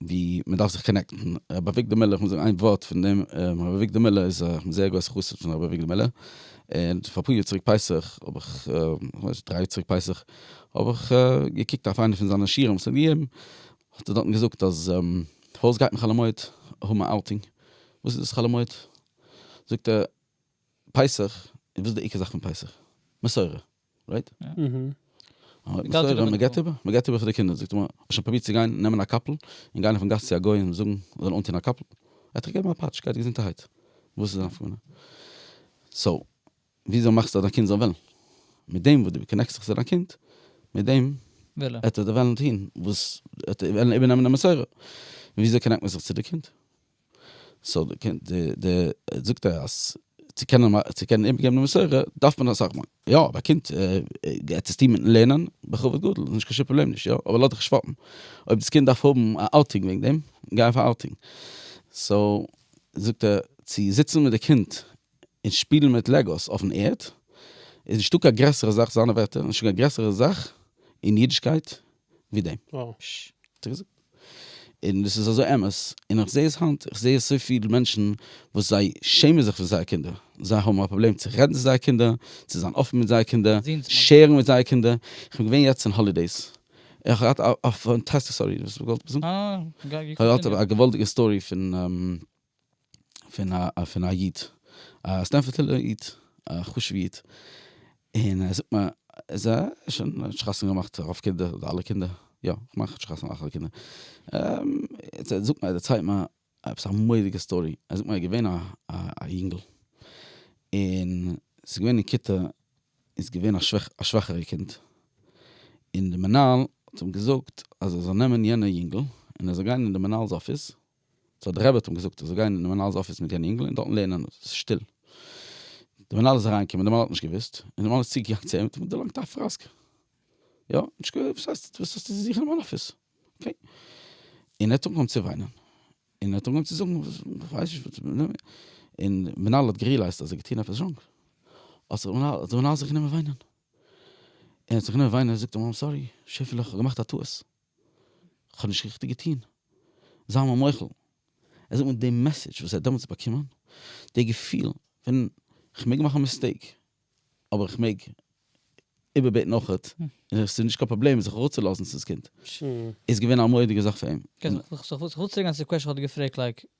ווי מען דארף זיך קאנעקטן, רבי אביגדור מילער, איך מוז זאגן איין ווארט פון דעם, רבי אביגדור מילער איז א, איך בין זייער גרויסע חסיד פון רבי אביגדור מילער. און פאר אפאר יאר צוריק פסח האב איך, כ'מיין דריי יאר צוריק פסח, האב איך געקוקט אויף איינע פון זיינע שיעורים וואס ער האט געגעבן, האט ער דארטן געזאגט אז פארוואס גייט מען חאלעמויד האבן א אוטינג? וואס איז דאס חאלעמויד? זאגט ער פסח, און וואס איז די עיקר זאך פון פסח? מסורה. רייט? מען געט איבער, מען געט איבער פאר די קינדער, זאגט ער, האסט שוין פרובירט צו גיין נעמען א קאפל און גיין אויפן גאס צו א גוי און זאגן ער זאל אנטון א קאפל? ער האט דיך געגעבן א פאטש, גיי געזונטערהייט, וואס איז די נפק מ? סאו, וויאזוי מאכסטו אז דיין קינד זאל וועלן? מיט דעם וואס דו קאנעקסט זיך צו דיין קינד, מיט דעם וועט ער וועלן טון וואס, וועט ער וועלן איבערנעמען די מסורה, וויאזוי קאנעקט מען זיך צו די קינד? סאו די קען די די זאגט ער אז צו קענען צו קענען איבערגעבן די מסורה דארף מען אסאך מאכן יא אבער א קינד עטס עס טוהן מיטן לערנען בכבוד גדול איז נישט קיין שום פראבלעם נישט יא אבער לאז דיך שוואפן אויב דאס קינד דארף האבן א אוטינג וועגן דעם גיי אויף א אוטינג סאו זאגט ער צו זיצן מיט די קינד און שפילן מיט לעגאוס אויפן ערד איז נישטא קיין גרעסערע זאך זיינע ווערטער נישטא קיין גרעסערע זאך אין אידישקייט ווי דעם. וואו. פש. האט ער געזאגט. און דאס איז אזוי אמת. און איך זעה עס היינט. איך זעה אזוי פיל מענטשן וואס זיי שעמען זיך פון זייער קינדער. זיי האבן א פראבלעם צו רעדן צו זייער קינדער, צו זיין אפן מיט זייער קינדער, שערן מיט זייער קינדער. איך בין געווען יעצט אין האלידעיס. איך האב געהאט א פאנטאסטישע סטארי. וואס האסט געוואלט זאגן? א. איך האב געהאט א געוואלדיגע סטארי פון. פון א איד, א סטענפארד'ער איד, א חשוב'ע איד, און ער זאגט מיר, ער האט שוין חתונה געמאכט, רוב קינדער, אדער אלע קינדער, יא, כ'מיין ער האט שוין חתונה געמאכט אלע קינדער, ער זאגט מיר, ער דערציילט מיר עפעס א מורא'דיגע סטארי, ער זאגט מיר ער איז געווען א יונגל, און ס'איז געווען אין כיתה איז געווען א שוואכערע קינד, און די מנהל האט אים געזאגט אז ער זאל נעמען יענע יונגל, און ער זאל גיין אין די מנהל'ס אפיס, סאו דער רבי האט אים געזאגט ער זאל גיין אין די מנהל'ס אפיס מיט יענע אינגל און דארטן לערנען און עס איז שטיל. די מנהל איז אריין געקומען די מנהל האט נישט געוויסט און די מנהל איז צו געגאנגען צו אים און אים דערלאנגט א פראסק. יא נישט געווען וואס הייסט וואס האסטו צו זוכן אין מיין אפיס. אקעי. און ער האט אנגעהויבן צו וויינען און ער האט אנגעהויבן צו זאגן כ'ווייס נישט וואס און די מנהל האט גערילייזט אז ער האט געטון עפעס ראנג האט זיך די מנהל זיך גענומען וויינען און ער האט זיך גענומען וויינען און ער זאגט אים איים סארי שעפעלע כ'האב געמאכט א טעות. כ'האב נישט ריכטיג געטון, זיי מיר מוחל. ער זאגט מיר די מעסעדזש וואס ער האט דעמאלטס באקומען, די געפיל פון כ'מעג מאכן א מיסטעיק, אבער כ'מעג איבערבעטן אויכעט, און ס'איז נישט קיין פראבלעם זיך אראפצולאזן צו דאס קינד, איז געווען א מורא'דיגע זאך פאר אים. כ'וועל צוריקגיין צו די קוועשאן וואס כ'האב דיר געפרעגט לייק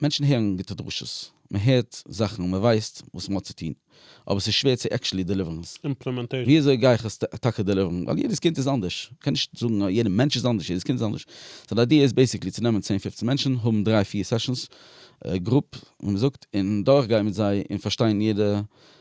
מענטשן הערן גוטע דרשות, מען הערט זאכן און מען ווייסט וואס מען האט צו טון, אבער ס'איז שווער צו עקשעלי דעליווערן עס. ווי אזוי גיי איך עס טאקע דעליווערן? ווייל יעדעס קינד איז אנדערש, מען קען נישט זאגן אז יעדע מענטש איז אנדערש, יעדעס קינד איז אנדערש. סאו די איידיע איז בעיסיקלי צו נעמען צען פופצן מענטשן, האבן דריי פיר סעשאנס, גרופ ווי מען זאגט, און דורכגיין מיט זיי און פארשטיין יעדע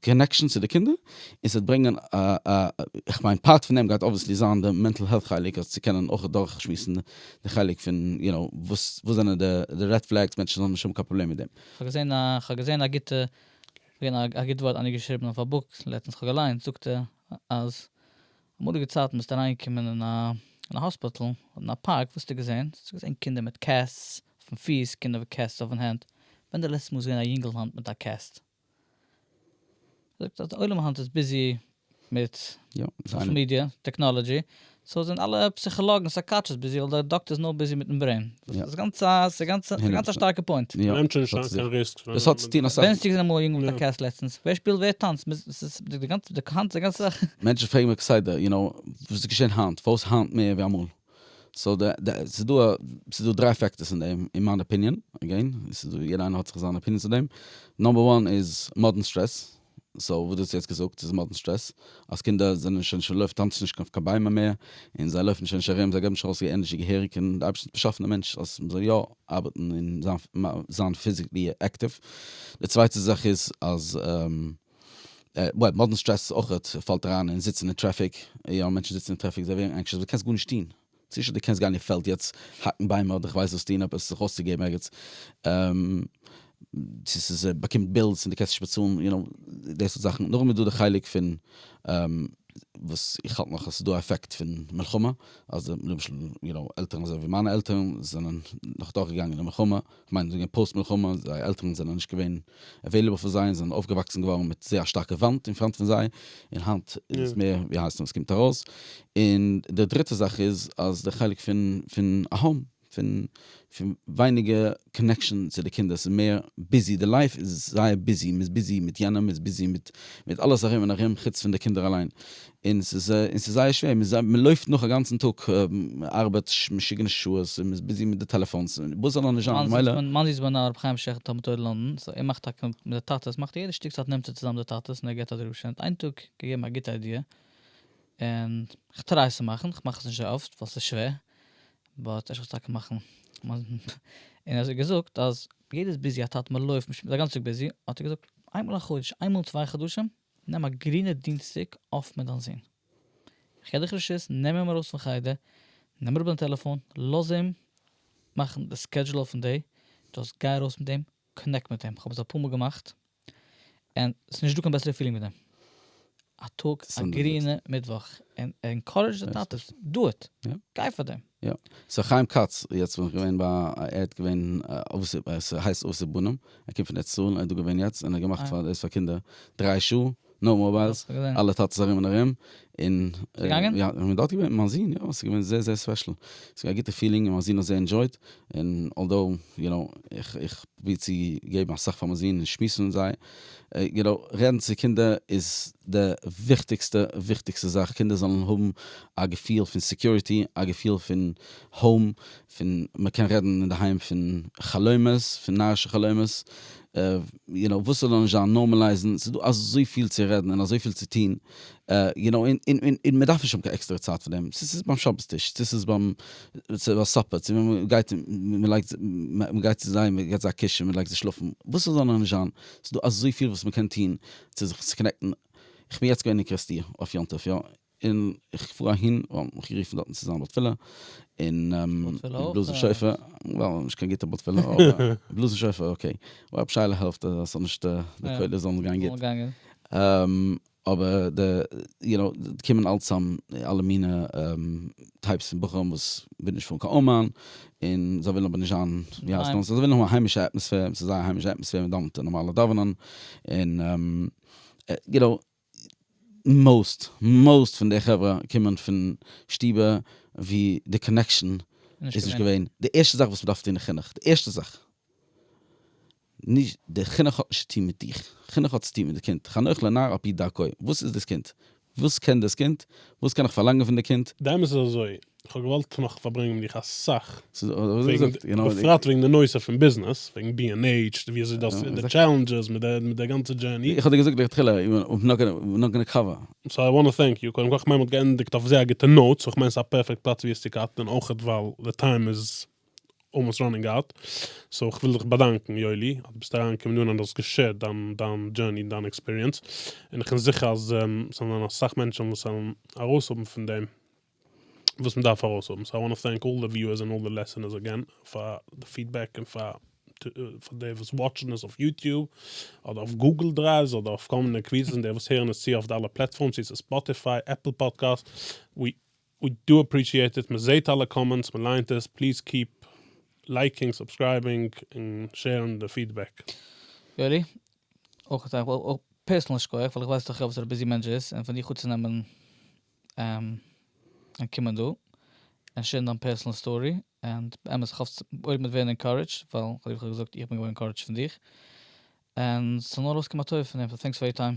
קאנעקשאן צו די קינדער, און ס'וועט ברענגען א א כ'מיין פארט פון דעם גייט אבוויעסלי זיין די מענטל העלט חלק אז צו קענען אויך דורך שמועסן די חלק פון יו נאו וואס וואס זענען די די רעד פלעגס מענטשן זאלן נישט האבן קיין פראבלעם מיט דעם. כ'האב געזען א כ'האב געזען א גוטע געווען א א גוט ווארט איינער האט געשריבן אויף א בוק לעצטנס כ'האב געליינט זאגט ער אז אמאליגע צייטן ביסטו אריין געקומען אין א אין א האספיטל אדער אין א פארק וואס האסטו געזען? האסטו געזען קינדער מיט קעסטס אויפן פיס קינדער מיט קעסטס אויפן הענט ווען די לעצטע מאל האסט געזען א יונגל האנט מיט א קעסט? זאגט אז די עולם היינט איז ביזי מיט סאשעל מידיע, טעקנאלעדזשי, סאו זענען אלע פסיכאלאגן סייקאטשעס ביזי ווייל די דאקטער איז נאר ביזי מיטן ברעין. ס'איז גאנץ א ס'גאנץ א גאנץ א שטארקע פוינט. מ'נעמט שוין נישט אריין קיין ריסקס ווען מ'האט מיט די. ווען האסטו געזען אמאל א יונגל מיט א קעסט לעצטנס? ווער שפילט ווער טאנצט? ס'איז די גאנצע די גאנצע זאך. מענטשן פרעגן מיך כסדר, יו נאו, וואס איז געשען היינט? פארוואס היינט מער ווי אמאל? סאו די די ס'איז דא ס'איז דא דריי פעקטערס אין דעם אין מיין אפיניען, עגעין ס'איז דא יעדער איינער האט זיך זיין אפיניען צו דעם, נאמבער וואן איז מאדערן סטרעס, סאו וואס דו האסט יעצט געזאגט איז מאדערן סטרעס, אז קינדער זענען שוין שוין לויפט טאנצן נישט אויף קיין ביימער מער, און זיי לויפן שוין נישט ארום זיי געבן נישט ארויס איר ענערזשי געהעריג, און די אייבערשטער האט באשאפן א מענטש אז מ'זאל יא ארבעטן און זיין זיין פיזיקלי עקטיוו, די צווייטע זאך איז אז. ווייל מאדערן סטרעס אויכעט פאלט אריין אין זיצן אין טרעפיק, יא מענטשן זיצן אין טרעפיק זיי ווערן ענקשעס ווייל קענסט גארנישט טון, צו שוין די קענסט גיין אין פעלד יעצט האקן ביימער אדער כ'ווייס וואס טון עפעס זיך אויסצוגעבן ערגעץ, צו ס'איז באקומט בילס און די קענסט נישט באצאלן יו נאו די סארט זאכן, נאכדעם איז דא די חלק פון וואס איך האלט נאך אז ס'איז דא א עפעקט פון מלחמה אז למשל יו נאו עלטערן אזוי ווי מיינע עלטערן זענען נאך דורכגעגאנגען די מלחמה כ'מיין זאגן אין פאוסט מלחמה, זייער עלטערן זענען נישט געווען עוועילעבל פאר זיי און זענען אויפגעוואקסן געווארן מיט זייער א שטארקע וואנט אין פראנט פון זיי, און היינט איז עס מער ווי הייסט עס קומט ארויס, און די דריטע זאך איז אז די חלק פון פון אהום פון פון ווייניגער קאנעקשאן צו די קינדער ס'איז מער ביזי די לייף איז זייער ביזי מ'איז ביזי מיט יענעם מ'איז ביזי מיט אלעס ארום און ארום חוץ פון די קינדער אליין און ס'איז און ס'איז זייער שווער, מ'איז זייער מ'לויפט נאך א גאנצן טאג, מ'ארבעט משוגענע שעות, און מ'איז ביזי מיט די טעלעפאנס, און וואס זאל אנדערש זיין, ממילא. מאנסי איז בנין הרב חיים שכטר תלמוד תורה לונדון, סאו ער מאכט טאקע מיט די טאטעס, מאכט ער יעדע שטיק צייט נעמט ער צוזאם די טאטעס און ער געבט א דרשה, האט איין טאג געגעבן א גוטע איידיע, און כ'טריי עס צו מאכן, כ'מאך עס נישט זייער אפט ווייל ס'איז שווער, באט אפשר זאל עס טאקע מאכן, און אז ער האט געזאגט אז יעדער איז ביזי א טאטע מ'לויפט מ'איז א גאנצע טאג ביזי, האט ער געזאגט איינמאל א חודש, איינמאל אין צוויי חדשים, נעם א גרינע דינסטאג אויף מיט דיין זון. איך געב דיך רשות, נעם אים ארויס פון חדר, נעם אראפ דיין טעלעפאן, לאז אים מאכן די סקעדזשול אויפן דעי, דזשאסט גיי ארויס מיט אים, קאנעקט מיט אים, כ'האב עס אפאר מאל געמאכט, און ס'איז נישטא קיין בעסערע פילינג ווי דעם. א טאג א גרינע מיטוואך, און ענקארעדזש די טאטעס, דו איט, גיי פאר דעם. יא. סאו חיים כץ, יעצט בין איך געווען ביי א, ער האט געווען ס'הייסט אבות בנים, ער קומט פון ארץ ישראל, ער איז דא געווען יעצט, און ער האט געמאכט פאר דאס פאר קינדער, דריי שעה, נאו מאובייל, אלע טאטעס ארום און ארום, און, און דארט געווען, מיין זון, יא, ס'איז געווען זייער זייער ספעשל, ס'איז געווען א גוטע פילינג, און מיין זון האט זייער ענדשויט, און אלדאו, יו נאו, איך פרוביר צו געבן אסאך פאר מיין זון און שמועסן מיט זיי, יו נאו, רעדן צו קינדער איז די וויכטיגסטע וויכטיגסטע זאך, קינדער זאלן האבן א געפיל פון סעקיוריטי, א געפיל פון האום, פון מען קען רעדן אינדערהיים פון חלומות, פון נארישע חלומות, יו נאו, וואס ס'זאל נישט זיין, נארמעלייזן, ס'איז דא אזויפיל צו רעדן און אזויפיל צו טון, יו נאו, און מען דארף נישט האבן קיין עקסטערע צייט פאר דעם, צו ס'איז ביים שבת טיש, צו ס'איז ביים צו א סאפער, צו ווען מ'גייט און מ'לייגט, מ'גייט צו זיי, מ'געט זיי א קיש און מ'לייגט זיך שלאפן, וואס ס'זאל נאר נישט זיין, ס'דא אזויפיל וואס מ'קען טון צו זיך צו קאנעקטן, כ'בין יעצט געווען אין קרעסטיר אויף יום טוב יא, און כ'פאר אהין, ווייל מ'האט מיך גערופן דארטן צו זיין בר תפלה, און בלאזן שופר, ווייל נישט קיין גוטע בר תפלה, אבער בלאזן שופר אקעי, רב שיילער העלפט אז ס'זאל נישט, די קולות זאלן גיין גוט. אבער די יו נאו קומען אלץ צאם אלע מינע טייפס פון בחורים וואס ווילן נישט פארן קיין אומאן און זיי ווילן אבער נישט זיין ווי הייסט נאך זיי ווילן האבן א היימישע אטמאספער ס'איז זייער א היימישע אטמאספער מען דאוונט די נארמאלע דאווענען און יו נאו מאוסט מאוסט פון די חברה קומען פון שטובער ווי די קאנעקשאן איז נישט געווען די ערשטע זאך וואס מען דארף טון אין חינוך די ערשטע זאך נישט די חינוך האט נישט צו טון מיט דיך, חינוך האט צו טון מיט די קינד, חנוך לנער על פי דרכו, וואס איז דאס קינד? וואס קען דאס קינד? וואס קען איך פארלאנגען פון די קינד? די אמת איז אזוי, כ'האב געוואלט נאך פארברענגען מיט דיך אסאך, בפרט וועגן די נושא פון ביזנעס, וועגן בי ענד עיטש, ווי אזוי דאס, די טשעלענדזשעס מיט די גאנצע דזשערני. איך האב דיר געזאגט לכתחילה, we're not gonna cover. סאו איי וואנט טו טענק יו, קודם כל כ'מיין מ'האט געענדיגט אויף זייער גוטע נאוט, סאו כ'מיין ס'איז א פערפעקט פלאץ ווי עס צו קאטן, און אויכעט ווייל די טיים איז אלמאסט ראנינג אוט, סאו כ'וויל דיך באדאנקן יואלי אז דו ביסט אריינגעקומען דא און אז דו האסט געשערט דיין דיין דזשורני און דיין עקספיריענס, און איך בין זיכער אז עס וועלן זיין אסאך מענטשן וואס וועלן ארויסהאבן פון דעם וואס מען דארף ארויסהאבן, סאו איי וואנט טו טענק אלל די וויוערס און אלל די לעסענערס אגעין פאר די פידבעק און פאר פאר די וואס וואטשן עס אויף יוטיוב אדער אויף גוגל דרייווס אדער אויף כל מיני קוויזעס און די וואס הערן עס צו אויף די אלע פלעטפארמס ווי ס'איז ספאטיפיי, עפל פאדקעסט, ווי ווי דו אפרישיעטעט, מען זעהט אלע קאמענטס, מען לייענט עס, פליז קיעפ לייקינג, סובסקרייבינג, און שערן די פידבעק. יואלי, אויך זאג איך פערסענאל שכח, ווייל איך ווייס דאך יא וואס א ביזי מענטש ביסט, און פון דיך אנצונעמען און קומען דא און שערן דיין פערסענאל סטארי, און באמת איך האף אויב מ'וועט ווערן ענקארעדזשד, ווייל ווי איך האב געזאגט איך בין געווארן ענקארעדזשד פון דיך, און ס'זאל נאר ארויסקומען א טובה פון דעם, סאו טענקס פאר יור טיים.